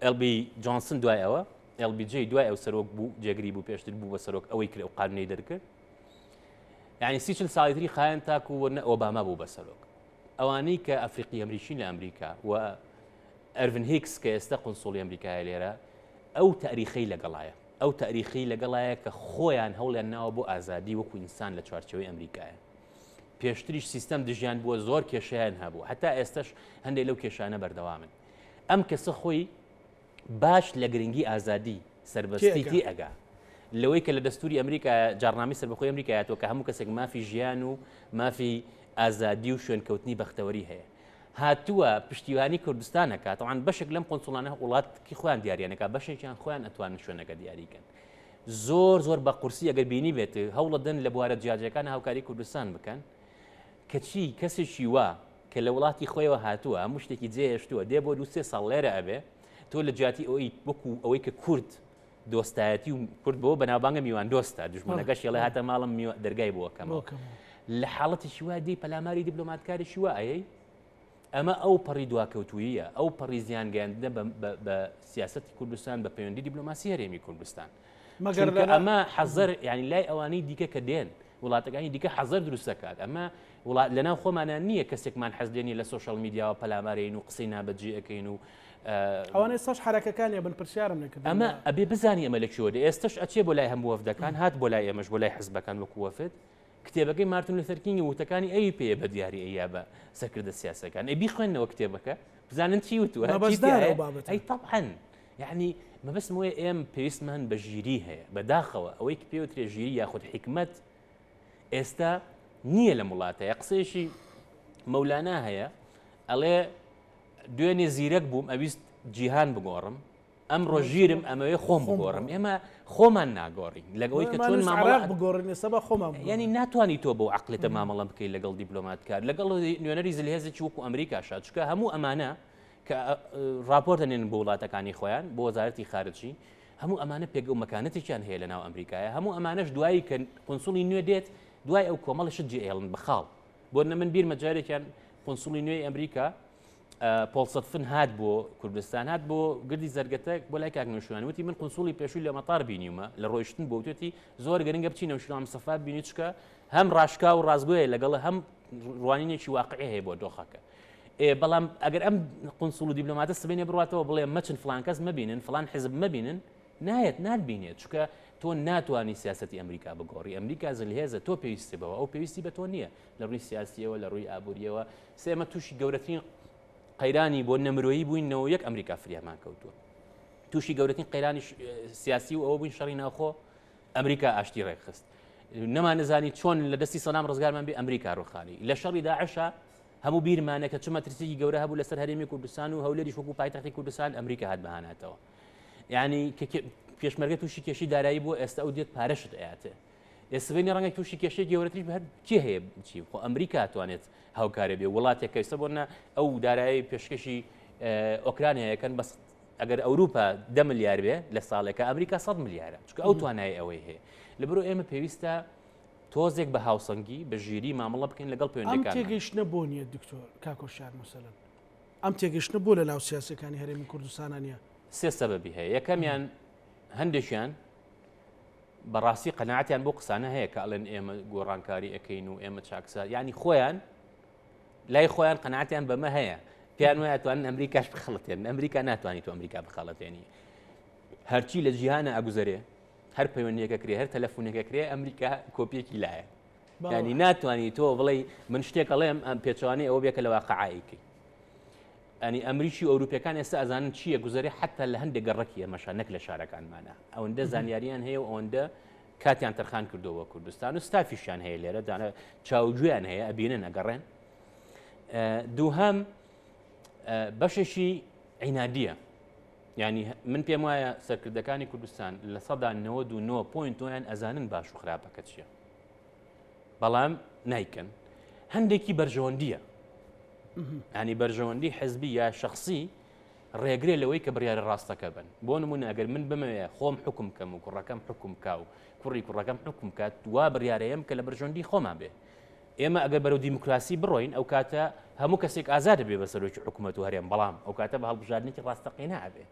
ئێل بی جۆنسن دوای ئەوە ئێل بی جی دوای ئەو سەرۆک بوو جێگری بوو پێشتر بوو بە سەرۆک ئەوەی کرد ئەو قانونەی دەرکرد یعنی سیچل ساڵیتری خایەن تاکو وە نە ئۆباما بوو بە سەرۆک ئەوانەی کە ئەفریقی ئەمریکین لە ئەمریکا و ئەرڤن هیکس کە ئێستا قنسڵی ئەمریکای لێرە ئەو تاریخی لەگەڵایە ئەو تاریخی لەگەڵایە کە خۆیان هەوڵیان ناوە بۆ ئازادی وەکو ئینسان لە چوارچەوەی ئەمریکایە پێشتریش سیستەم دژیان بووە زۆر کێشیان هەبوو هەتا ئێستش هەندێک لەو کێشانە بەردەوامن ئەم کەسە خۆی باش لە گرنگی ئازادی سربەستیتی ئەگا لەوەی کە لە دەستوری ئەمریکا جارنامی سربخۆی ئەمریکایەوە کە هەموو کەسێک مافی ژیان و مافی ئازادی و شوێنکەوتنی بەختەوەری هەیە هاتووە پشتیوانی کوردستانەکە تاوان بەشێک لەم قۆنسڵانە وڵاتکی خۆیان دیارانەکە بەشێکیان خۆیان ئەتوان شوێنەکە دیاریکەن زۆر زۆر بە قورسی ئەگەر بینیبێت هەوڵەدەن لە بوارە جیاجیەکان هاوکاری کوردستان بکەن کەچی کەسێکی وا کە لە وڵاتی خۆیەوە هاتووە هەموو شتێکی جێهێشتووە دێ بۆ دو سێ ساڵ لێرە ئەبێ تۆ لە جیاتی ئەوەی وەکو ئەوەی کە کورد دۆستایەتی و کورد بۆ بەناوبانگە میوان دۆستە دژمنەکەش یڵێ هاتە ماڵم دەرگای بۆکەمەوە لە حاڵەتیشی وا دی پەلاماری دیبلۆماتکاریشی وا ئەیەی ئەمە ئەو پەڕی دواکەوتووییە، ئەو پەڕی زیان گەیاندنە بە بە سیاسەتی کوردستان، بە پەیوەندی دیبلۆماسی هەرێمی کوردستان. مەگەر چونکە ئەمە حەزەر یانی لای ئەوانەی دیکە کە دێن، وڵاتەکانی دیکە حەزەر دروست دەکات. ئەمە وڵات لەناو خۆمانا نییە کەسێکمان حەز لێ نییە لە سۆشیال میدیاوە پەلامارێین و قسەی نابەجێ ئەکەین و. ئەوانە ئێستاش حەرەکەکانی ئەبن پرسیارم لێ کردن. ئەمە ئەبێ بزانین ئەمە لە کوێوە دێ. ئێستەش ئەچێ بۆ لای هەموو وەفدەکان، هات بۆ لای ئێمەش بۆ لای حزبەکان وەکوو وەفد. کتێبەکەی مارتن لوثەر کینگە ووتەکانی ئەوی پێیە بە دیاری ئەیا بە سەرکردە سیاسەکان ئەی بیخوێنەوە کتێبەکە بزانن چی وتوە ئەی طبعا یعنی مەبستم وەیە ئێم پێویستمان بە ژیری هەیە بەداخەوە ئەوەی کە پێوترێ ژیری یاخود حکمت ئێستا نییە لە وڵاتەیە قسەیەشی مەولانا هەیە ئەڵێ دوێنێ زیرەک بووم ئەویست جیهان بگۆڕم ئەمڕۆ ژیرم ئەمەوێ خۆم بگۆڕم ئێمە خۆمان ناگۆڕین لەگەڵی کە چۆن مامەڵە بگۆڕین ئێستا بە خۆمان ینی ناتوانانی تۆ بۆ عقلێتە مامەڵە بکەیت لەگەڵ دیبلۆماتکار لەگەڵ نوێنەری زلهێزێکی وەکو ئەمریکا شاد چکە هەموو ئەمانە کە راپۆرت دەنێن بۆ وڵاتەکانی خۆیان بۆ وەزارەتی خارجی هەموو ئەمانە پێک و مەکانەتێکیان هەیە لە ناو ئەمریکایە هەموو ئەمانەش دوایی کە قنسڵی نوێ دێت دوای ئەو کۆمەڵشت جێهێڵن بخاڵ بۆ نە من بیرمە جارێکیان قنسڵی نوێی ئەمریکا پۆڵسەدفن هات بۆ کوردستان هات بۆ گردی زەرگەتە بۆ لای کاک نوشوان وتی من قنسوڵی پێشووی لە مەتار بینیمە لە ڕۆیشتن بۆ توێتی زۆر گەرنگە بچی نەوشرام سەفا بینی چکە هەم ڕاشکا و ڕازگوۆیە لەگەڵ هەم ڕوانینێکی واقعی هەیە بۆ دۆخەکە بەڵام ئەگەر ئەم قنسوڵ و دیبلۆماتە سبێنێ بڕاتەوە بڵێ مەچن فلانکەس مەبینن فلان حزب مەبینن نایەت نادبینێت چکە تۆ ناتوانانی سیاستی ئەمریکا بگۆڕی ئەمریکا زلهێزە تۆ پێویستی بەوە ئەو پێویستی بە تۆ نییە لە ڕووی سیاسیەوە لە ڕووی ئابووریەوە سێمە تووشی گەورەترین قەیرانی بۆ نەمرۆیی بووینەوە یەک ئەمریکا فریامان کەوتووە تووشی گەورەترین قەیرانی سیاسی و ئەوە بووین شەڕی ناوخۆ ئەمریکا ئاشتی ڕێکخست نەمان نزانی چۆن لە دەستی سەدام ڕزگارمان بێ ئەمریکا ڕوخانی لە شەڕی داعشە هەموو بیرمانە کە چمە ترسێکی گەورە هەبوو لەسەر هەرێمی کوردستان و هەولێری شوکو پایتەختی کوردستان ئەمریکا هات بەهاناتەوە یعنی پێشمەرگە تووشی کێشی دارایی بۆ ئێستا ئەو دێت پارەشت ئەاتێ ئێ سڤێنی ڕەنگە تووشی کێشەی گەورەتریش بە هەر کێ هەیە چی خۆ ئەمریکا توانێت هاوکارە بێ وڵاتێک کە ئێستا بۆنە ئەو دارایی پێشکەشی ئۆکرانیایەکەن بەس ئەگەر ئەوروپا دە ملیار بێ لە ساڵێکە ئەمریکا 100 ملیارە چکە ئەو توانای ئەوەی هەیە لە بەرو ئێمە پێویستە تۆزێک بە هاوسەنگی بە ژیری مامەڵە بکەین لەگەڵ پێوەندەکان تێگەشتە بۆ نیە دکتۆر کاکۆشار مسەلم ئەم تێگەشتە بۆ لە ناو سیاسەکانی هەرێمی کوردستانە نیە سێ سەبەبی هەیە یەکەمیان هەندێکیان بەڕاستی قەناعەتیان بۆ قسانە هەیە کە ئەڵێن ئێمە گۆڕانکاری ئەەکەین و ئێمە چاکسا ینی خۆیان لای خۆیان قەناعەتیان بەمە هەیە پێیان وایە توانن ئەمریکاش بخڵەتێن ئەمریکا ناتوانانی تو ئەمریکا بخەڵەتێنی هەرچی لە جیهانە ئەگوزەرێ هەر پەیوەندیەکە کرێ هەر تەلەفۆنەکە کرێ ئەمریکا کۆپیەکی لایە ینی ناتوانانی تۆ بڵێ من شتێک ئەڵێم ئەم پێچوانی ئەوە بێکە لە واقعایکەی یانی ئەمریکی و ئەوروپیەکان ئێستا ئەزانن چیە گوزەرێ حتا لە هەندێک گەڕەکی ئێمەشە نەک لە شارەکانمانە ئەوەندە زانیاریان هەیە و ئەوەندە کاتیان تەرخان کردەوە کوردستان و ستافیشیان هەیە لێرە دانە چاوگویان هەیە ئەبینن ئەگەڕێن دووهام بەشێکی عینادیە ینی من پێم وایە سەرکردەکانی کوردستان لە سەدا 99 پوین تۆیان ئەزانن باش و خراپەکە چییە بەڵام نایکەن هەندێکی بەرژەوەندیە ئەنی بەرژەوەندی حزبی یا شخصی ڕێگرێ لەوەی کە بڕیارە ڕاستەکە بن بۆ نمونە ئەگەر من بمەوێ خۆم حکم کەم و کوڕەکەم حکم کا و کوڕی کوڕەکەم حکم کات دوا بڕارەیەم کە لە بەرژەندی خۆمان بێ ئێمە ئەگەر بەرەو دیموکراسی بڕۆین ئەو کاتە هەموو کەسێک ئازادە بێ بە سەرۆکی حکوومەت و هەرێم بەڵام ئەو کاتە بە هەڵبژاردنێکی ڕاستەقینە ئەبێ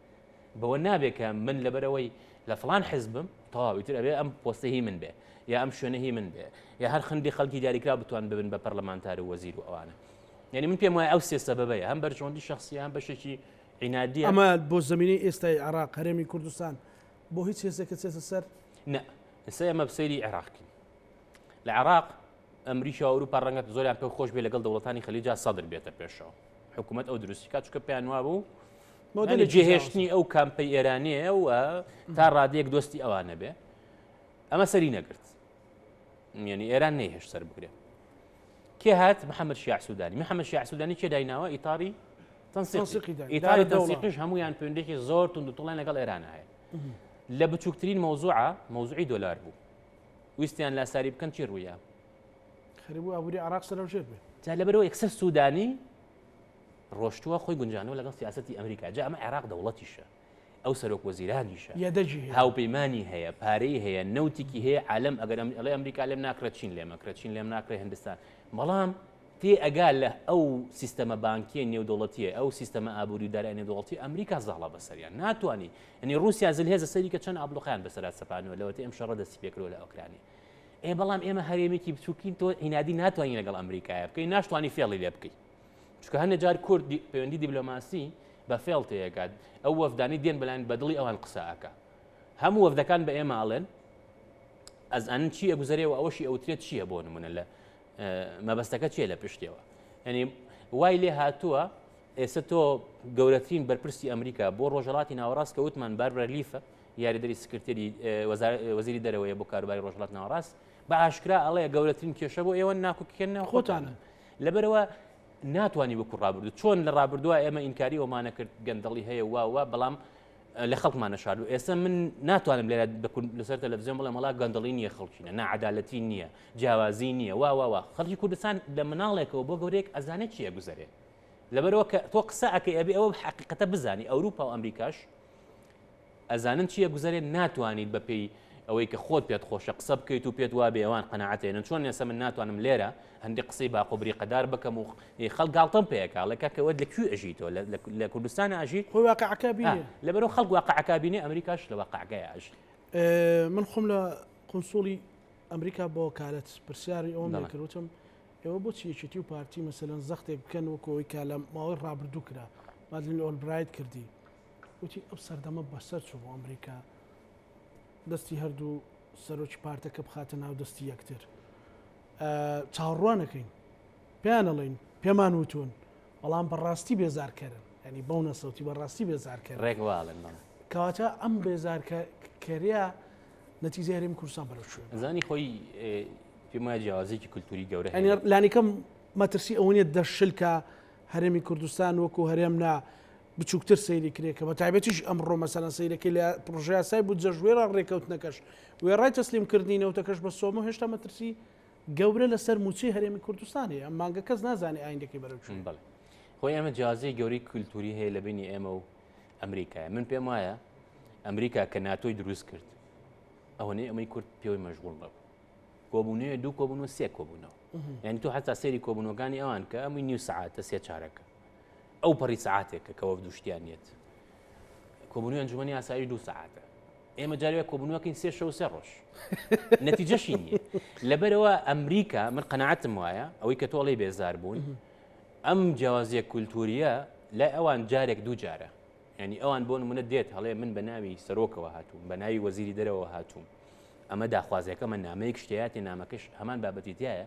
بەوە نابێ کە من لەبەرەوەی لە فلان حزبم تەواوی تر ئەبێ ئەم پۆستە هی من بێ یا ئەم شوێنە هی من بێ یا هەر خندی خەڵکی دیاریکرا بتوان ببن بە پەرلەمانتار و وەزیر و ئەوانە یعنی من پێم وایە ئەو سێ سەبەبەیە هەم بەرژەوەندی شخصیان بەشێکی عینادی ئەمە بۆ زمینی ئێستای عراق هەرێمی کوردستان بۆ هیچ هێزێکە چێتە سەر نە ئستا ئەمە بسەیری عێراقین لە عراق ئەمریکا ئەوروپا ڕەنگەت زۆریان پێ خۆش بێ لەگەڵ دەوڵەتانی خەلیجا سەدر بێتە پێشەوە حکوومەت ئەو دروستیکات چکە پێیان وابوو مۆدێلی جێهێشتنی ئەو کامپەی ئێرانەیە و تا ڕادێک دۆستی ئەوانە بێ ئەمە سەری نەگرت یعنی ئێران نەیهێش سەر بگرێ کێ هات محەممەد شیع سوودانی محەممەد شیع سوودانی کێ دایناوە ئیتاری ئیتاری دەسیقش هەمویان پوێندێکی زۆر تون دوتڵیان لەگەڵ ئێران هەیە لە بچووکترین مەوزوعە مەوزوعی دۆلار بوو ویستیان لاساری بکەن چی ڕوویە خەربوو ئابووری عراق سەرەوژێت بێت جا لەبەرەوە یەکسەر سوودانی ڕۆشتووە خۆی گونجانەوە لەگەڵ سیاسەتی ئەمریکا جا ئەمە عێراق دەوڵەتیشە ئەو سەرۆک وەزیرانیشە یەدەگی هاوپەیمانی هەیە پارەی هەیە نەوتیکی هەیە عالم ئەگەر ئەڵێ ئەمریکا لێم ناکرە چین لێمەکرە چین لێم ناکرێ هندستان بەڵام تێ ئەگا لە ئەو سیستەمە بانکیە نێودوڵەتیە ئەو سیستەمە ئابووری دارای نێودوڵەتی ئەمریکا زاڵە بەسەریان ناتوانانی ئەنی رووسیا زل هێزە سەری کە چەند ئابلوقیان بەسەرات سەپانەوە لەوەتی ئەم شەڕە دەستی پێکرۆ لە ئۆکرانی ئێ بەڵام ئێمە هەرێمێکی بچووکین تۆ هینادی ناتوانین لەگەڵ ئەمریکایە بکەی ناشتوانانی فێڵی لێ بکەیت چکە هەندە جار کورد پەیوەندی دیبلۆماسی بە فێڵ تێگات ئەو وەفدانی دێن بەلایەن بەدڵی ئەوان قسەکە هەموو وەفدەکان بە ئێماڵێن ئەز ئەنن چی ئەگوزەرێ و ئەوەشی ئەوترێت چییە بۆ نمونە لە مەبەستەکە چیە لە پشتەوە ئەنی وای لێ هاتووە ئێستا تۆ گەورەترین بەرپرسی ئەمریکا بۆ ڕۆژەڵاتی ناوەڕاست کە وتمان بار بەرلیفە یاریدەری سکرتێری وەزیری دەرەوەیە بۆ کاروباری ڕۆژڵات ناوەڕاست بە ئاشکرا ئەڵەیە گەورەترین کێشە بۆ ئێوە ناکوکێنە خۆتانە لەبەرەوە ناتوانانی وەکو ڕابردو چۆن لە ڕابردووە ئێمە ئینکاری ئەومانە کرد گەندەڵی هەیە واوە بەڵام لە خەڵکمانە شارد و ئێستا من ناتوانم لێرە لەسەر تەلەڤزیۆن بڵێ مەڵا گەندەڵی نییە خەڵکینە نەعادالەتی نییە جیاوازی نییە واواوا خەڵکی کوردستان لە مناڵێکەوە بۆ گەورێک ئەزانێت چیە گوزارێ لەبەرەوە کە تۆ قسە ئەکە ئەبێ ئەوە حقیقەتە بزانی ئەوروپا و ئەمریکاش ئەزانن چی ئەگوزەرێت ناتوانیت بە پێی ئەوەی کە خۆت پێت خۆشە قسە بکەیت و پێت وابێ ئەوان قەناعەت ئەێنن چۆن نێسە من ناتوانم لێرە هەندی قسەی باق و بریقەدار بکەم و خەڵ گاڵتەم پێکاڵێک کاکەوەت لە کوێ ئەژی تۆ لە کوردستان ئاژیت خۆی واقعەکە بینێ لەبەرو خەڵک واقعەکە بینێ ئەمریکاش لە واقعگای ئاژی من خۆم لە قنسوڵی ئەمریکا بۆ کالەت پرسیاری ئەوم نەکردوتم ئێوە بۆ چیەکێتی و پارتی مەسەەن زەختێک بکەن وەکۆی کا لە ماوەی ڕابردوو کرا مادلین ئۆلبرایت کردی وتی ئەو سەردەمە بەسەر چوو بۆ ئەمریکا دەستی هەردوو سەرۆکی پارتەکە بخاتە ناو دەستی یەکتر چاوەڕوانەکەین پێیانەڵین پێمان وتون بەڵام بەڕاستی بێزارکەرن ینی بەو نەسەوتی بەڕاستی بێزارکە ڕێکواڵن کەواتە ئەم بێزارکەریا نەتیزاریم کورسان بەرە شوێن زانی خۆی پێما جیازێکی کللتوری گەورە لانیکەم مەترسی ئەوەیە دەشلکە هەرێمی کوردستان وەکو هەرێم نا بچوکتر سەیری کرێ کە بەتایبەتیش ئەمڕۆ مەسەلەن سەیرەکەی لە پڕۆژەیاسای بودجەش وێڕا ڕێکەوتنەکەش وێڕای تەسلیم کردنی نەوتەکەش بە سۆمۆ هێشتا مەترسی گەورە لەسەر مووچەی هەرێمی کوردستان هەیە ئەم مانگە کەس نازانێ ئایندەکەی بەرەو چون بڵێ خۆی ئەمە جیازی گەوری کولتوری هەیە لە بینی ئێمە و ئەمریکای من پێم وایە ئەمریکا کە ناتۆی دروست کرد ئەوەنەی ئەمەی کورد پێوەی مەژغول بەب کۆبوونەیە دوو کۆبوون و سێ کۆبوونەوە یعنی تۆ حتا سێری کۆبوونەکانی ئەوان کە ئەمووی نیو سعاتە سێ چارەکە ئەو پەڕی سەعاتێکە کە وەفد و شتیان یەت کۆبوونەوەی ئەنجومەنی ئاسایش دوو سەعاتە ئێمە جارێ کۆبوونەوەکەین سێ شەو سێ ڕۆژ نەتیجەشی نییە لەبەرەوە ئەمریکا من قەنەعەتم وایە ئەوەی کە تۆڵی بێزار بوون ئەم جیاوازیە کولتوریە لای ئەوان جارێک دوو جارە ینی ئەوان بۆ منە دێت هەڵێ من بە ناوی سەرۆکەوە هاتووم بە ناوی وەزیری دەرەوە هاتووم ئەمە داخوازیەکە من نامەیەک شتیاتی نامەکەش هەمان بابەتی تایە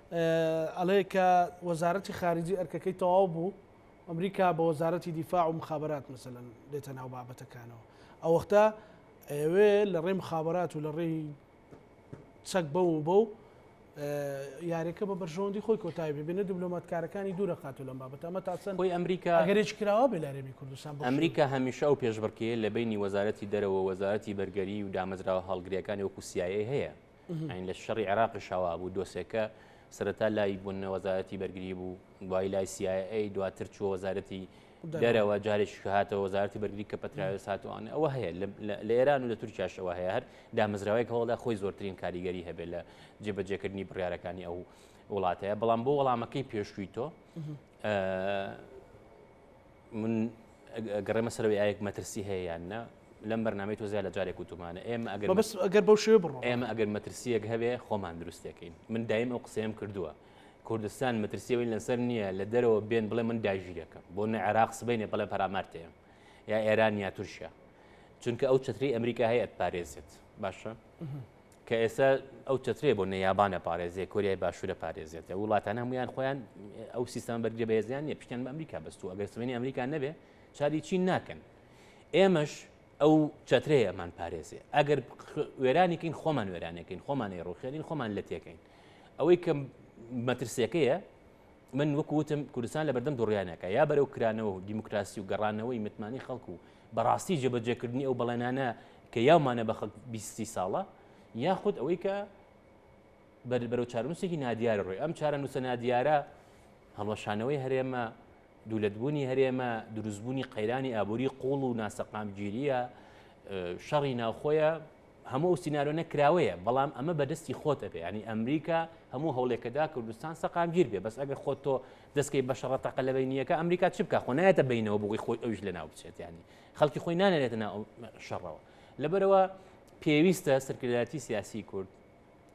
ئەڵێ کە وەزارەتی خارجی ئەرکەکەی تەواو بوو ئەمریکا بە وەزارەتی دیفاع و مخابرات مثلەن دێتە ناو بابەتەکانەوە ئەوەختە ئەوێ لە ڕێی مخابرات و لە ڕێی چەک بە و بە و یاریەکە بە بەرژەوەندی خۆی کۆتای ببینە دیبلۆماتکارەکانی دوورە خاتو لەم بابەت ئەمە تاسن خۆی ئەمریکا گەرێک کراوە بێ لارێمی کوردستان ئەمریکا هەمیشە ئەو پێشبڕکێ لە بینی وەزارەتی دەرەوە وەزارەتی بەرگەری و دامەزراوە هەڵگرەکانی وەکو سیایە هەیە ئەین لە شەڕی عێراقیش هەوا بوو دۆسێکە سەرەتا لای بوون وەزارەتی بەرگری بوو دوای لای سیایی دواتر چوە وەزارەتی دەرەوە جارێکی کە هاتەوە وەزارتی بەرگری کە پەتراوێ ساتوانە ئەوە هەیە لە ئێران و لە تورکیاشەوە هەیە هەر دامەزراوەیەک هەوڵدا خۆی زۆرترین کاریگەری هەبێت لە جێبەجێکردنی بڕارەکانی ئەو وڵاتەیە بەڵام بۆ وەڵامەکەی پێشووی تۆ من گەڕێمە سەرەوەی ئایەک مەترسی هەیە یان نا لەم بەرنمەی تۆزیا لە جارێک وتومانە ئێمە ئەگەر بەس ئەگەر بەو شێ بڕۆ ئێمە ئەگەر مەترسیەک هەبێ خۆمان دروستەکەین من دایم ئەو قسەیەم کردووە کوردستان مەترسیەوەی لەسەر نییە لە دەرەوە بێن بڵێ من داژیرەکەم بۆ نە عێراق سبینێ بەڵێ پەرامارتەیەم یا ئێران یا تورکیا چونکە ئەو چتری ئەمریکا هەیە پارێزێت باشە کە ئێستا ئەو چەترێ بۆ نەیابانە پارێزێ کۆریای باشوورە پارێزێت لە وڵاتان هەمویان خۆیان ئەو سیستان بەرگە بەێزیان نیە پیشیان بە ئەمریکا بەستو ئەگەر سمێنی ئەمریکا نەبێ چاری چین ناکەن ئێمەش ئەو چەترەیەمان پارێزێ ئەگەر وێرانێکین خۆمان وێرانەکەین خۆمانی ڕوخێنین خۆمان لە تێکەین ئەوەی کە مەترسیەکەیە من وەکو وتم کوردستان لە بەردەم دوڕیانەکە یا بەرەو کرانەوە و دیموکراسی و گەڕانەوەی متمانەی خەڵک و بەڕاستی جێبەجێکردنی ئەو بەڵێنانە کە یاومانە بە خەڵک بیست سی ساڵە یاخود ئەوەی کە بەرەو چارەنووسێکی نادیارە ڕۆی ئەم چارەنووسە نادیارە هەڵوەشانەوەی هەرێمە دوولەتبوونی هەرێمە دروستبوونی قەیرانی ئابووری قوڵ و ناسەقامگیریە شەڕی ناوخۆیە هەموو ئەو سینارۆنە کراوەیە بەڵام ئەمە بەدەستی خۆت ئەبێ ینی ئەمریکا هەموو هەوڵێکەدا کوردستان سەقامگیر بێ بەس ئەگەر خۆت تۆ دەستکەی بەشەڕە تەقە لە بینیەکە ئەمریکا چ بکە خۆ نایەتە بینەوە بۆی خۆی ئەوش لە ناو بچێت ینی خەڵکی خۆی نانێتە ناو شەڕەوە لەبەرەوە پێویستە سەرکردایەتی سیاسی کورد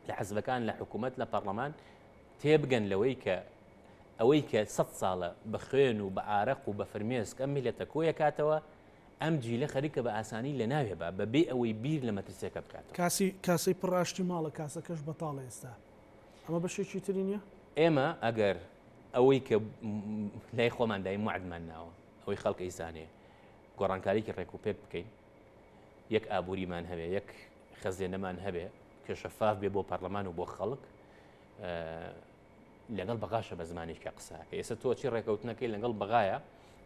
لە حزبەکان لە حکوومەت لە پەرلەمان تێبگەن لەوەی کە ئەوەی کە سە ساڵە بە خوێن و بە ئارەق و بە فرمێسک ئەم میلەتە کۆیەکاتەوە ئەم جیلە خەریکە بە ئاسانی لە ناوێ با بە بێ ئەوەی بیر لە مەترسیەکە بکاتەوە. کاسی کاسەی پڕ ئاشتی ماڵە کاسەکەش بەتاڵە ئێستا ئەمە بەشێکی تری نیە؟ ئێمە ئەگەر ئەوەی کە لای خۆمان دایم وەعدمان ناوە ئەوەی خەڵک ئەیزانێ گۆڕانکاریکی ڕێک و پێک بکەین یەک ئابووریمان هەبێ یەک خەزێنەمان هەبێ کە شەفاف بێ بۆ پەڕلەمان و بۆ خەڵک لەگەڵ بەغاشە بە زمانێکە قساکە ئێستا تۆ چی ڕێکەوتنەکەی لەگەڵ بەغایە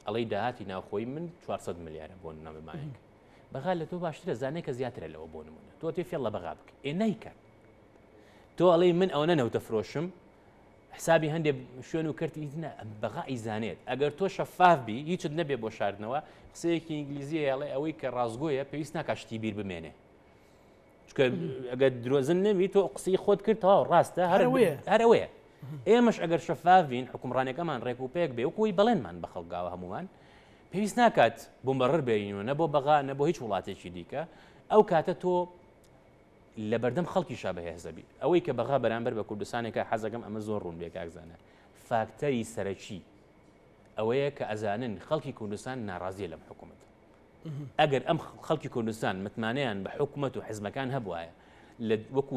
ئەڵەی داهاتی ناوخۆی من 400 ملیارە بۆ نامەمانێک بەغا لە تۆ باشترە زانێک کە زیاترە لەوە بۆ نمونە تۆ تێ فێڵ لە بەغا بکە ئێ نیکات تۆ ئەڵی من ئەوەنە نەوتە فرۆشم حسابی هەندێک شوێن و کردی بەغا ئیزانێت ئەگەر تۆ شەفاف بی هیچت نەبێ بۆ شاردنەوە قسەیەکی ئینگلیزیە یاڵێ ئەوەی کە ڕازگۆیە پێویست ناکە شتی بیر بمێنێ چکە ئەگە درۆزن نەبی تۆ قسەی خۆت کرد تاو ڕاستە هەروەیە هەرەوەیە ئێمەش ئەگەر شەفاڤین حکومڕانەکەمان ڕێک و پێک بێ وکوی بەڵێنمان بە خەڵگاوە هەمومان پێویست ناکات بمەڕ بێنەوە نە بۆ بەغا نە بۆ هیچ وڵاتێکی دیکە ئەو کاتە تۆ لە بەردەم خەڵکی شا بەهێزەبی ئەوەی کە بەغا بەرامبەر بە کوردستانێکە حەزەکەم ئەمە زۆر ڕوون بێکاکزانە فاکتەری سەرەکی ئەوەیە کە ئەزانن خەڵکی کوردستان ناڕازیە لەم حکوومەت ئەگەر ئەم خەڵکی کوردستان متمانەیان بە حکومەت و حزبەکان هەبوایە لە وەکو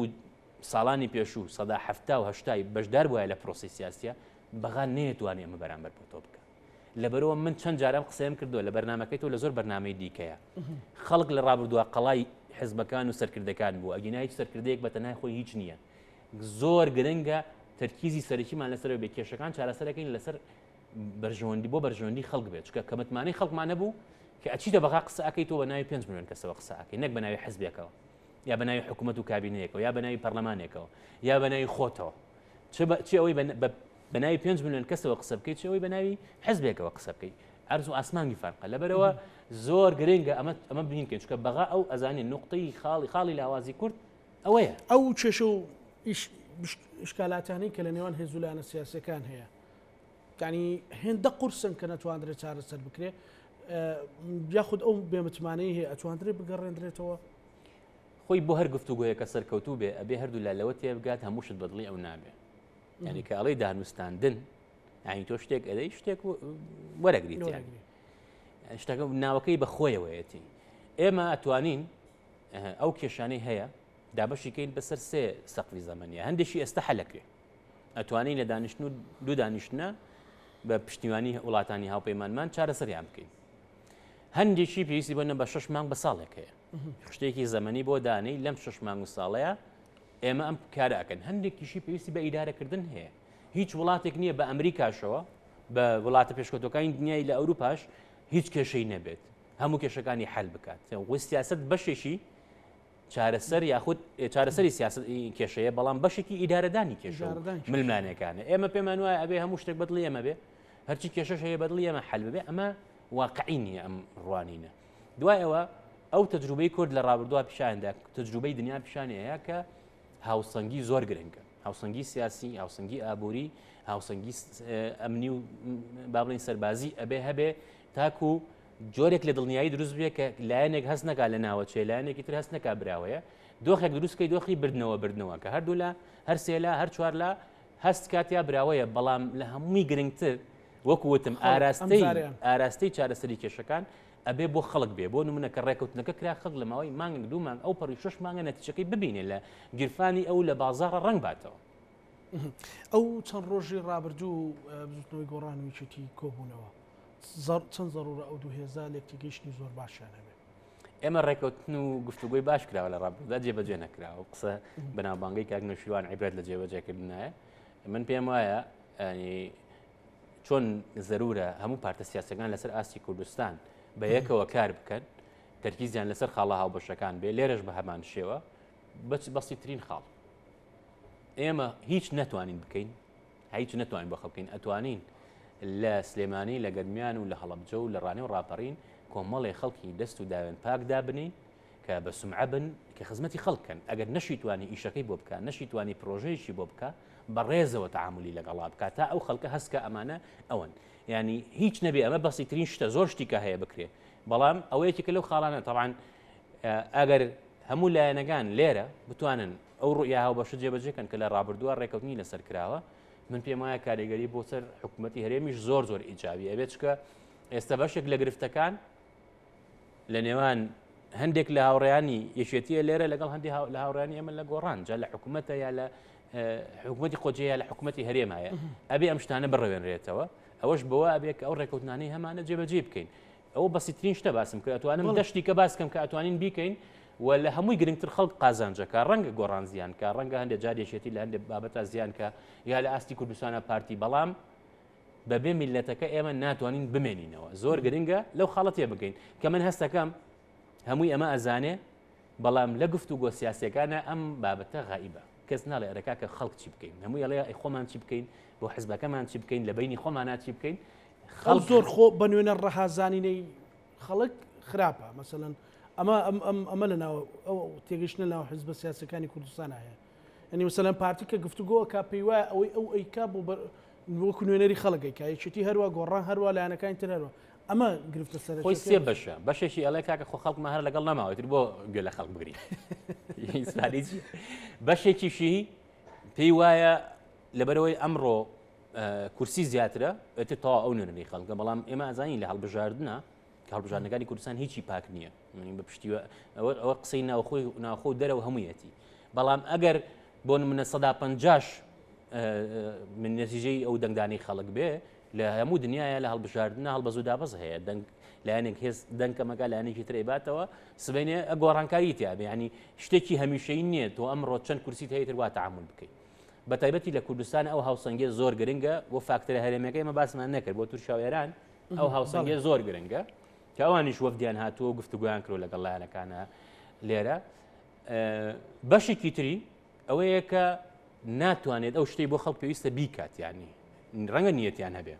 ساڵانی پێشوو سەدا هەفتا و هەشتای بەشدار بواە لە پرۆسی سیاسە بەغا نەیەتوانێ ئەمە بەرامبەر بۆ تۆ بکە لەبەرەوە من چەند جارم قسەیان کردووە لە بەرنمەکەی تۆ لە زۆر بەرنمەی دیکەیە خەڵک لە ڕابردووە قەڵای حزبەکان و سەرکردەکان بوو ئەگینا هیچ سەرکردەیەک بە تەنای خۆی هیچ نییە زۆر گرنگە تەرکیزی سەرەکیمان لەسەر بێ کێشەکان چارەسەرەکەین لەسەر بەرژەوەندی بۆ بەرژەوەندی خەڵک بێت چکە کە متمانەی خەڵکمان نەبوو کە ئەچیتە بەغا قسە ئەکەیت تۆ بە ناوی پێنج میلیۆن کەسەوە قسە ئەکەی نەک بە ناوی حزبێکەوە یا بە ناوی حکوومەت و کابینەیەکەوە یا بە ناوی پەرلەمانێکەوە یا بە ناوی خۆتەوە چ ئەوەی بە ناوی پێنج میلیۆن کەسەوە قسە بکەیت چ ئەوەی بە ناوی حزبێکەوە قسە بکەیت ئەرز و ئاسمانی فەرقە لەبەرەوە زۆر گرنگە ئەمە ئەمە بینین کە چکە بەغا ئەو ئەزانێ نقطەی خاڵی خاڵی لاوازی کورد ئەوەیە ئەو چێشە و شکالاتانی کە لە نێوان هێزولانە سیاسەکان هەیە یانی هێندە قورسن کە نەتواندرێت چارەسەر بکرێت یاخود ئەو بێمتمانەی هەیە ئەتواندرێت بگەڕێندرێتەوە خۆی بۆ هەر گفتوگوۆیە کە سەرکەوتوو بێ ئەبێ هەردوو لا لەوە تێبگات هەمووشت بەدڵی ئەو نابێ ینی کە ئەڵی دانوستاندن ئاین تۆ شتێک ئەدەی شتێک وەرەگریت شتەکە ناوەکەی بە خۆیەوەیەتی ئێمە ئەتوانین ئەو کێشانەی هەیە دابەشیکەین بەسەر سێ سەقفی زەمەنی هەندێکی ئێستا حەلەکرێ ئەتوانین لە دانیشتن و دوو دانیشتنە بە پشتیوانی وڵاتانی هاوپەیمانمان چارەسەریان بکەین هەندێکی پێویستی بۆنە بە شش مانگ بە ساڵێک هەیە خشتێکی زەمەنی بۆ دانەی لەم شش مانگ و ساڵەیە ئێمە ئەم کارەکەن هەندێکیشی پێویستی بە ئیدارەکردن هەیە هیچ وڵاتێک نییە بە ئەمریکاشەوە بە وڵاتە پێشکەوتەکانی دنیای لە ئەوروپاش هیچ کێشەی نەبێت هەموو کێشەکانی حل بکات وە سیاست بەشێکی چارەسەر یاخود چارەسەری سیاست کێشەیە بەڵام بەشێکی ئیدارەدانی کێشە ململانەکانە ئێمە پێمان وایە ئەبێ هەموو شتێک بەدڵی ئەمە بێ هەرچی کێشەش هەیە بەدڵی ئەمە حل بێ ئەمە واقعی نییە ئەم ڕوانینە دوای ئەوە ئەو تەجروبەی کورد لە ڕابردووە پیشاندا تەجروبەی دنیا پیشانەیە کە هاوسەنگی زۆر گرنگە هاوسەنگی سیاسی هاوسەنگی ئابووری هاوسەنگی ئەمنی و بابلین سەربازی ئەبێ هەبێ تاکو جۆرێک لە دڵنیایی دروست بێ کە لایەنێک هەست نەکا لە ناوەچێ لایەنێکی تر هەست نەکا براوەیە دۆخێک دروستکەی دۆخی بردنەوە بردنەوە کە هەردوو لە هەر سێلا هەر چوار لە هەست کاتیا براوەیە بەڵام لە هەمووی گرنگتر وەکوتم ئاراستەی ئاراستەی چارەسەری کێشەکان ئەبێ بۆ خەڵک بێ بۆ نمونە کە ڕێکوتنەکە کرا خەڵک لە ماوەی مانگ دوو مانگ ئەو پەڕی شش مانگە نەتیچەکەی ببینێ لە گیرفانی ئەو لە بازاڕە ڕنگ باتەوە ئەو چەند ڕۆژی ڕابردوو بزوتنەوەی گۆڕان ویچێتی کۆبوونەوە چەند زەڕورە ئەو دوو هێزا لێکتیگەیشتنی زۆر باشیان هەبێت ئێمە ڕێکەوتن و گفتوگوی باش کراوە لە ڕابدا جێبەجێ نەکراوە قسە بەناوبانگەی کاک نەشیوان عیبرەت لە جێبەجێکردنایە من پێم وایە چۆن زەرورە هەموو پارتە سیاسەکان لەسەر ئاستی کوردستان بە یەکەوە کار بکەن تەرکیزیان لەسەر خاڵە هاوبەشەکان بێ لێرەش بە هەمان شێوە بەچ بەستی ترین خاڵ ئێمە هیچ نەتوانین بکەین هیچ نەتوانین بەخە بکەین ئەتوانین لە سلێمانی لە گەرمیان و لە هەڵبجە و لە ڕانێ و ڕاپەڕین کۆمەڵێ خەڵکی دەست و داوێن پاکدا بنین کە بە سمعە بن کە خزمەتی خەڵکەن ئەگەر نەشیتوانی ئیشەکەی بۆ بکە نەشیتوانی پرۆژەیەکی بۆ بکە بە ڕێزەوە تعاملی لەگەڵا بکە تا ئەو خەڵکە هەستکە ئەمانە ئەوەن ینی هیچ نەبێ ئەمە بەسی ترین شتە زۆر شتیکە هەیە بکرێ بەڵام ئەوەیەکی کە لەو خاڵانە تەوان ئەگەر هەموو لایەنەکان لێرە بتوانن ئەو ڕوئیا هاوبەشە جێبەجێ کەن کە لە ڕابردووە ڕێکەوتنی لەسەر کراوە من پێم وایە کاریگەری بۆ سەر حکوومەتتی هەرێمیش زۆر زۆر ئیجاوی ئەبێت چکە ئێستا بەشێک لە گرفتەکان لە نێوان هەندێک لە هاوڕیانی یەکێتیە لێرە لەگەڵ هەندی لە هاوڕانی ئەمە لە گۆڕان جا لە حکوومەتە یا لە حکوومەتتی قۆجەیە لە حکوومەتتی هەرێم هەیە ئەبێ ئەم شتانە بڕوێنرێتەوە ئەوەش بەوە ئەبێت ئەو ڕێکوتنانی هەمانە جێبەجێ بکەین ئەوە بەسیترین شتە باسم کرد ئەتوانم دە شتیکە باسکەم کە ئەتوانین بیکەین و لە هەمووی گرنگتر خەڵک قازانجەکە ڕەنگە گۆڕان زیان کە ڕەنگە هەندێک جارێشێتی لە هەندێک بابەتە زیان کە یا لە ئاستی کوردستانە پارتی بەڵام بەبێ میلەتەکە ئێمە ناتوانین بمێنینەوە زۆر گرنگە لەو خاڵەتێ بگەین کە من هەستەکەم هەمووی ئەمە ئەزانێ بەڵام لە گفت و گۆ سیاسەکانە ئەم بابەتە غائیبە کەس ناڵێ ئەرەکە کە خەڵک چی بکەین هەموو یڵێ خۆمان چی بکەین بۆ حزبەکەمان چی بکەین لە بینی خۆمانات چی بکەین خەڵک زۆر خۆ بە نوێنە ڕەها زانینەی خەڵک خراپە مەسەەن ئەمە ئەمە لە ناو ئەو تێگەشتە ناو حزب بە سیاسەکانی کوردستان هەیە ئەنی وسەلەن پارتی کە گفتوگۆکە پێی وایە ئەوەی ئەو ئەیکا بۆ وەکو نوێنەری خەڵگەی کایەتی هەروە گۆڕان هەروە لایەنەکانی ترەرەوە ئەمە گرفتە سەر خۆی سێ بەشە بەشێکی ئەڵێ کاکە خۆ خەڵکمە هەر لەگەڵ نەماوەتر بۆ گوێ لە خەڵک بگری بەشێکیشی پێی وایە لەبەرەوەی ئەمڕۆ کورسی زیاترە ئەتە تا ئەو نوێنەری خەڵکە بەڵام ئێمە ئازانی لە هەڵبژاردنە کاڵبژاردنەکانی کوردستان هیچی پاک نییە منی بە پشتیوە ئەوە ئەوە قسەی ناوخۆی ناخۆ دەرەوە هەموویەتی بەڵام ئەگەر بۆ منە سەدا پنجاش من نەتیجەی ئەو دەنگدانی خەڵک بێ لە هەموو دنیاە لە هەڵبژاردنە هەڵبەزوو دابەز هەیە دەنگ لایەنێک هێز دەنکەمەکە لایەنێکی ترێباتەوە سبینێ ئەگۆڕانکاری تیاێ ینی شتێکی هەمیشەی نییە تۆ ئەمڕۆ چەند کورسی هەیەتر وا تعامل بکەیت بەتایبەتی لە کوردستان ئەو هاوسەنگێ زۆر گرنگە و فاکتەرە هەرێمەکەی مە باسمان نەکرد بۆ تورکیا و ئێران ئەو هاوسەنگێ زۆر گرنگە کە ئەوانیش وەفدیان هاتووە و گفتوگویان کرد لەگەڵ لایەنەکانە لێرە بەشێکی تری ئەوەیە کە ناتوانێت ئەو شتەی بۆ خەڵک پێویستە بیکات یانی ڕەنگە نیەتیان هەبێ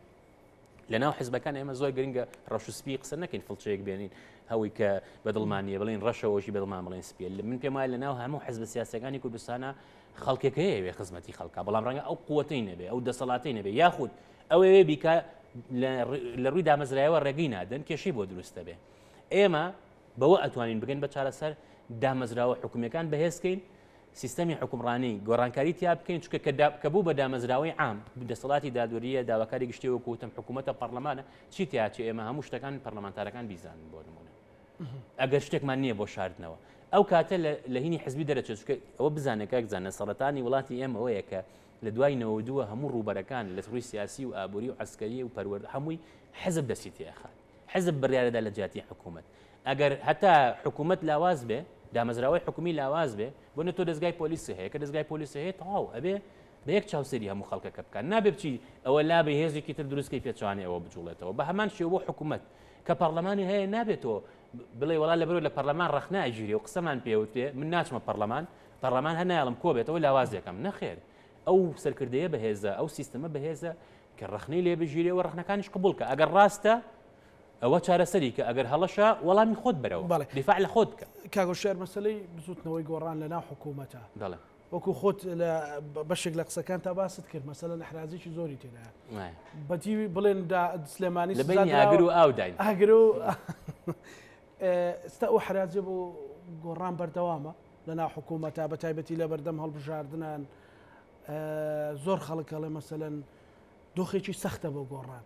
لە ناو حزبەکان ئێمە زۆر گرنگە ڕەش سپی قسە نەکەین فڵچەیەک بێنین هەوی کە بە دڵمانە بڵین ڕەشەوەشی بە دڵمان بڵێن سپیل من پێم وایە لە ناو هەموو حزب سیاسەکانی کوردستانە خەڵکەکەی وێ خزمەتی خەڵکە بەڵام ڕەنگە ئەو قوتەی نەبێ ئەو دەسەڵاتی نەبێ یاخود ئەوێ بیکە لە ڕووی دامەزرایەوە ڕێگەی نادەن کێشەی بۆ دروستە بێ ئێمە بەوە ئەتوانین بگەن بە چارەسەر دامەزراوە حکومیەکان بەهێزکەین سیستەمی حوکمڕانی گۆڕانکاری تیا بکەین چکە کە بوو بە دامەزراوەی عام دەسەڵاتی دادوەریە داواکاری گشتی وەکو وتم حکوومەتە پەرلەمانە چی تیا چ ئێمە هەموو شتەکان پەرلەمانتارەکان بیزانن بۆ نمونە ئەگەر شتێکمان نییە بۆ شاردنەوە ئەو کاتە لە هینی حزبی دەرەچێت چکە ئەوە بزانێکە بزانە سەرەتانی وڵاتی ئێمە ئەوەیە کە لە دوای نەوە دووە هەموو ڕووبەرەکان لە ڕووی سیاسی و ئابووری و ئەسکەری و پەروەرد هەمووی حزب دەستی تێخات حزب بڕیارەدا لە جیاتی حکومەت ئەگەر هەتا حکومەت لاواز بێ دامەزراوەی حکومی لاواز بێ بۆ نە تۆ دەستگای پۆلیسی هەیە کە دەستگای پۆلیسی هەیە تەواو ئەبێ بە یەک چاوسری هەموو خەڵکەکە بکات نابێ بچی ئەوە لا بە هێزێکی تر دروستکەی پێچوانێ ئەوە بجوڵێتەوە بە هەمان شێ بۆ حکومت کە پەرلەمانی هەیە نابێت تۆ بڵێ وڵا لە بەرو لە پەرلەمان ڕخناگیری و قسەمان پێوتێ من ناچمە پەرلەمان پەرلەمان هەناڵم کۆبێتەوە لاوازێکم نەخێر ئەو سەرکردەیە بەهێزە ئەو سیستەمە بەهێزە کە ڕەخنەی لێ بگیرێ و ڕەخنەکانیش قبوڵ کە ئەگەر ڕاستە ئەوە چارەسەری کە ئەگەر هەڵەشە وەڵامی خۆت بەرەوە بەڵێ دیفاع لە خۆت بکە کاگو شێر مەسلەی بزوتنەوەی گۆڕان لە ناو حکوومەتە دەڵێ وەکو خۆت لە بەشێک لە قسەکان تا باست کرد مەسەلە لە حرازێکی زۆری تێدا وایە. بەتیوی بڵێن دا سلێمانی لە بینی ئاگر و ئاو داین ئاگر و ئێستا ئەو حراجە بۆ گۆڕان بەردەوامە لە ناو حکوومەتە بە تایبەتی لە بەردەم هەڵبژاردنان زۆر خەڵک ئەڵێ مەسەەن دۆخێکی سەختە بۆ گۆڕان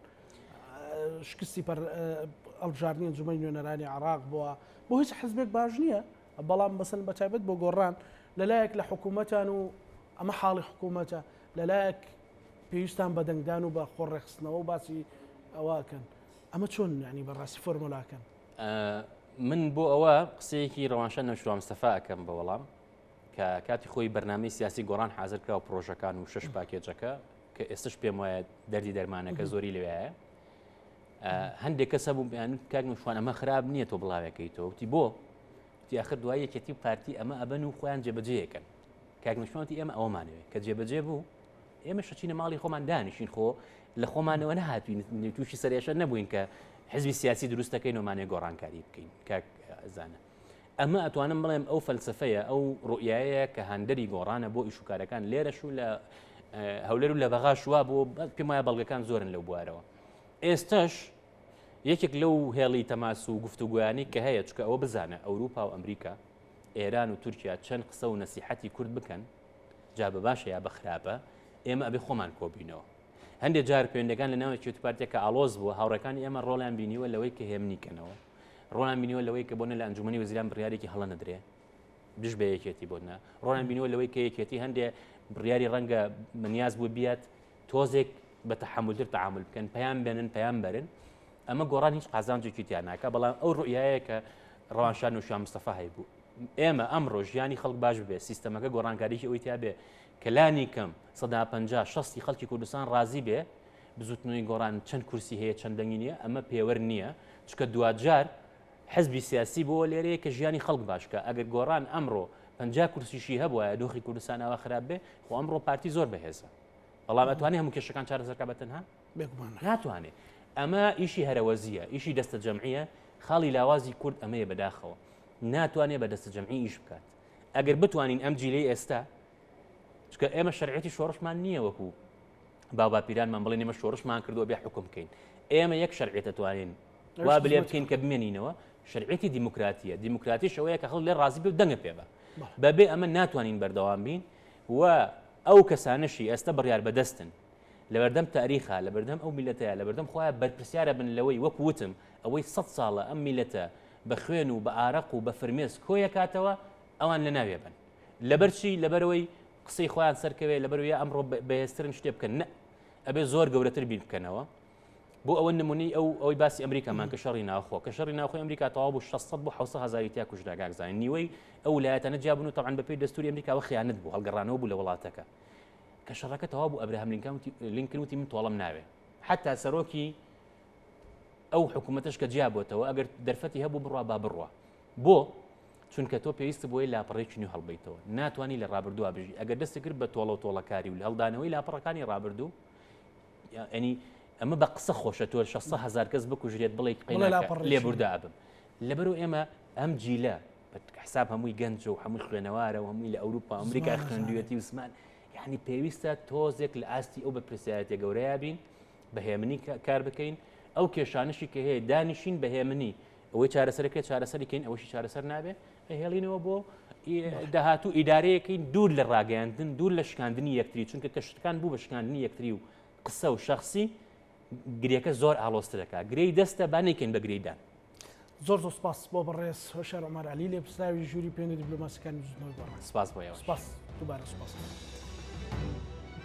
شکستی پەر ئەڵبژاردنی جمەی نوێنەرانی عراق بووە بۆ هیچ حزبێک باش نییە بەڵام بەسن بە تایبەت بۆ گۆڕان لەلایەک لە حکوومەتان و ئەمە حاڵی حکوومەتە لەلایەک پێویستان بە دەنگدان و بە خۆڕێخستنەوە باسی ئەوەکەن ئەمە چۆن ینی بەڕاستی فۆرمۆلاکەن من بۆ ئەوە قسەیەکی ڕەوانشە نەشوام سەفاکەم بە وەڵام کە کاتی خۆی بەرنامەی سیاسی گۆڕان حاضر کرا و پرۆژەکان و شش پاکێجەکە کە ئێستش پێم وایە دەردی دەرمانەکە زۆری لەوێە هەندێک کەسە بوو بیان کاک نوشوان ئەمە خراپ نییە تۆ بڵاوێکەکەی تۆوتی بۆ تیاخر دوای یەکێتی و پارتی ئەمە ئەبەن و خۆیان جێبەجەیەکەن کاک نوشوانتی ئێمە ئەومانەوێت کە جێبەجێ بوو ئێمە شەچینە ماڵی خۆمان دانیشین خۆ لە خۆمانەوە نەهاتوین تووشی سەرێشە نەبووین کە حزبی سیاسی دروستەکەی نۆمانێ گۆڕانکاری بکەین کاک زانە ئەمە ئەتوانم بڵێم ئەو فەلسفەیە ئەو ڕوئایەیە کە هاندەری گۆڕانە بۆ ئیشوکارەکان لێرەش و لە هەولەر و لە بەغا شووا بۆ پێم وایە بەڵگەکان زۆرن لەو بوارەوە ئێستش یەکێک لەو هێڵی تەماس و گفتوگویانی کە هەیە چکە ئەوە بزانە ئەوروپا و ئەمریکا ئێران و تورکیا چەند قسە و نەسیحەتی کورد بکەن جا بە باشە یا بە خراپە ئێمە ئەبێ خۆمان کۆبینەوە هەندێک جار پێندەکان لە ناوەکیێت پارتێکە ئالۆز بوو هاوڕەکانی ئێمە ڕۆڵیان بینیوە لەوەی کە هێمنی کەنەوە ڕۆنان بینیوە لەوەی کە بۆنە لە ئەنجومنی وزیران بڕیارێکی هەڵە نەدرێ دژ بە یەکێتی بۆنە ڕۆنان بینیوە لەوەی کە یەکێتی هەندێ بڕیاری ڕەنگە منیاز بوو بیات تۆزێک بە تەحملتر تعامل بکەن پەیان بێنن پەیان بەرن ئەمە گۆڕان هیچ قازانجێکی تیان ناکە بەڵام ئەو ڕوئایە کە ڕەوانشان و شان مستەفا هەیبوو ئێمە ئەمڕۆ ژیانی خەڵک باش بێ سیستەمەکە گۆڕانکاریی ئەوی تیا بێ کەلانی کەم سەدا پ شستی خەڵکی کوردستان ڕازی بێ بزوتنەوەی گۆڕان چەند کورسی هەیە چەند دەنگی نیە ئەمە پێوەر نیە چکە دواجار حزبی سیاسی بۆ لێرەیە کە ژیانی خەڵک باشکە ئەگەر گۆڕان ئەمڕۆ پنج کورسیشی هەبواە دۆخی کوردستان ئەوە خراپ بێ خۆ ئەمڕۆ پارتی زۆر بەهێزە بەڵام ئەتوانێ هەموو کێشەکان چارەسەرکە بەتەنها ناتوانێت ئەمە ئیشی هەرەوەزیە ئیشی دەستە جەمعە خاڵی لاوازی کورد ئەمەیە بەداخەوە ناتوانێت بە دەستە جەمعی ئیش بکات ئەگەر بتوانین ئەم جیلی ئێستا چکە ئێمە شەرعەتی شۆڕشمان نییە وەکو باوباپیرانمان بڵێن ئێمە شۆڕشمان کردووە بێ حکوم بکەین ئێمە یەک شەرعێتە توانین وا بلێ بکەین کە بمێنینەوە شەرعێتی دیموکراتیە دیموکراتی شەوەیە کە هەڵ لێ ڕازی بێ و دەنگە پێ بە بەبێ ئەمە ناتوانین بەردەوام بین و ئەو کەسانەشی ئێستا بڕیار بەدەستن لەبەردەم تاریخا لە بەردەم ئەو میلەتەیە لە بەردەم خۆیان بەرپسیارە بن لەوەی وەک وتم ئەوەی سە ساڵە ئەم میلەتە بە خوێن و بە ئارەق و بە فرمێس کۆیەکاتەوە ئەوان لە ناوێ بن لەبەر چی لەبەرەوەی قسەی خۆیان سەرکەوێت لەبەروی ئەمڕۆ بەهێسترن شتێ بکەن نە ئەبێ زۆر گەورەتر بیر بکەنەوە بۆ ئەوە نمونی ئەو ئەوی باسی ئەمریکامان کە شەڕی ناوخۆ کە شەڕی ناوخۆی ئەمریکا تەوا بوو 600 بۆ 600 هزاری تیا کوژراگاکزانین نیوەی ئەو ولایەتەنە جیابن و تەوان بەپی دەستوری ئەمریکاوە خیانەت بوو هەڵگەڕانەوە بوو لە وڵاتەکە کە شەڕەکە تەوا بوو ئەبراهام لینکاوتی لینکروتی من تۆڵم ناوێ حتا سەرۆکی ئەو حکوومەتش کە جیابەتەوە ئەگەر دەرفەتی هەبوو بڕوا با بڕە بۆ؟ چونکە تۆ پێویست بۆیە لاپەڕێکی نوێ هەڵبیتەوە ناتوانانی لە ڕابردووە بژی ئەگەر دەستی کرد بە تۆڵە و تۆڵەکاری و هەڵدانەوەی لاپەڕەکانی ڕابردوو ئەنی ئەمە بە قسە خۆشە تۆ 600 هزار کەس بکوژرێت بڵێ لێبوردا ئەبم لەبەرو ئێمە ئەم جیلە حساب هەمووی گەنج و هەمووی خوێنەوارە و هەمووی لە ئەوروپا ئەمریکای خوێندوێتی وسمان یعنی پێویستە تۆزێک لە ئاستی ئەو بە پرسیارەتە گەورەیە بین بە هێمنی کار بکەین ئەو کێشانشی کە هەیە دانیشین بە هێمنی ئەوەی چارەسەر کرێت چارەسەری کەین ئەوەشی چارەسەر نابێت ئەهێڵینەوە بۆ داهاتوو ئیدارەیەکەی دوور لە ڕاگەیاندن دوور لە شکاندنی یەکتری چونکە کە شتەکان بوو بە شکاندنی یەکتری و قسە و شخصی گرێکە زۆر ئالۆسترەکە گرێی دەستە با نەیکەین بە گرێدان زۆر زۆر سپاس بۆ بەڕێز هۆشار ئۆمار علی لێ پرسراوی ژووری پێنی دیبلۆماسیەکانی بزنەوەی بەڕێز سپاس بۆ سپاس دووبارە سپاس.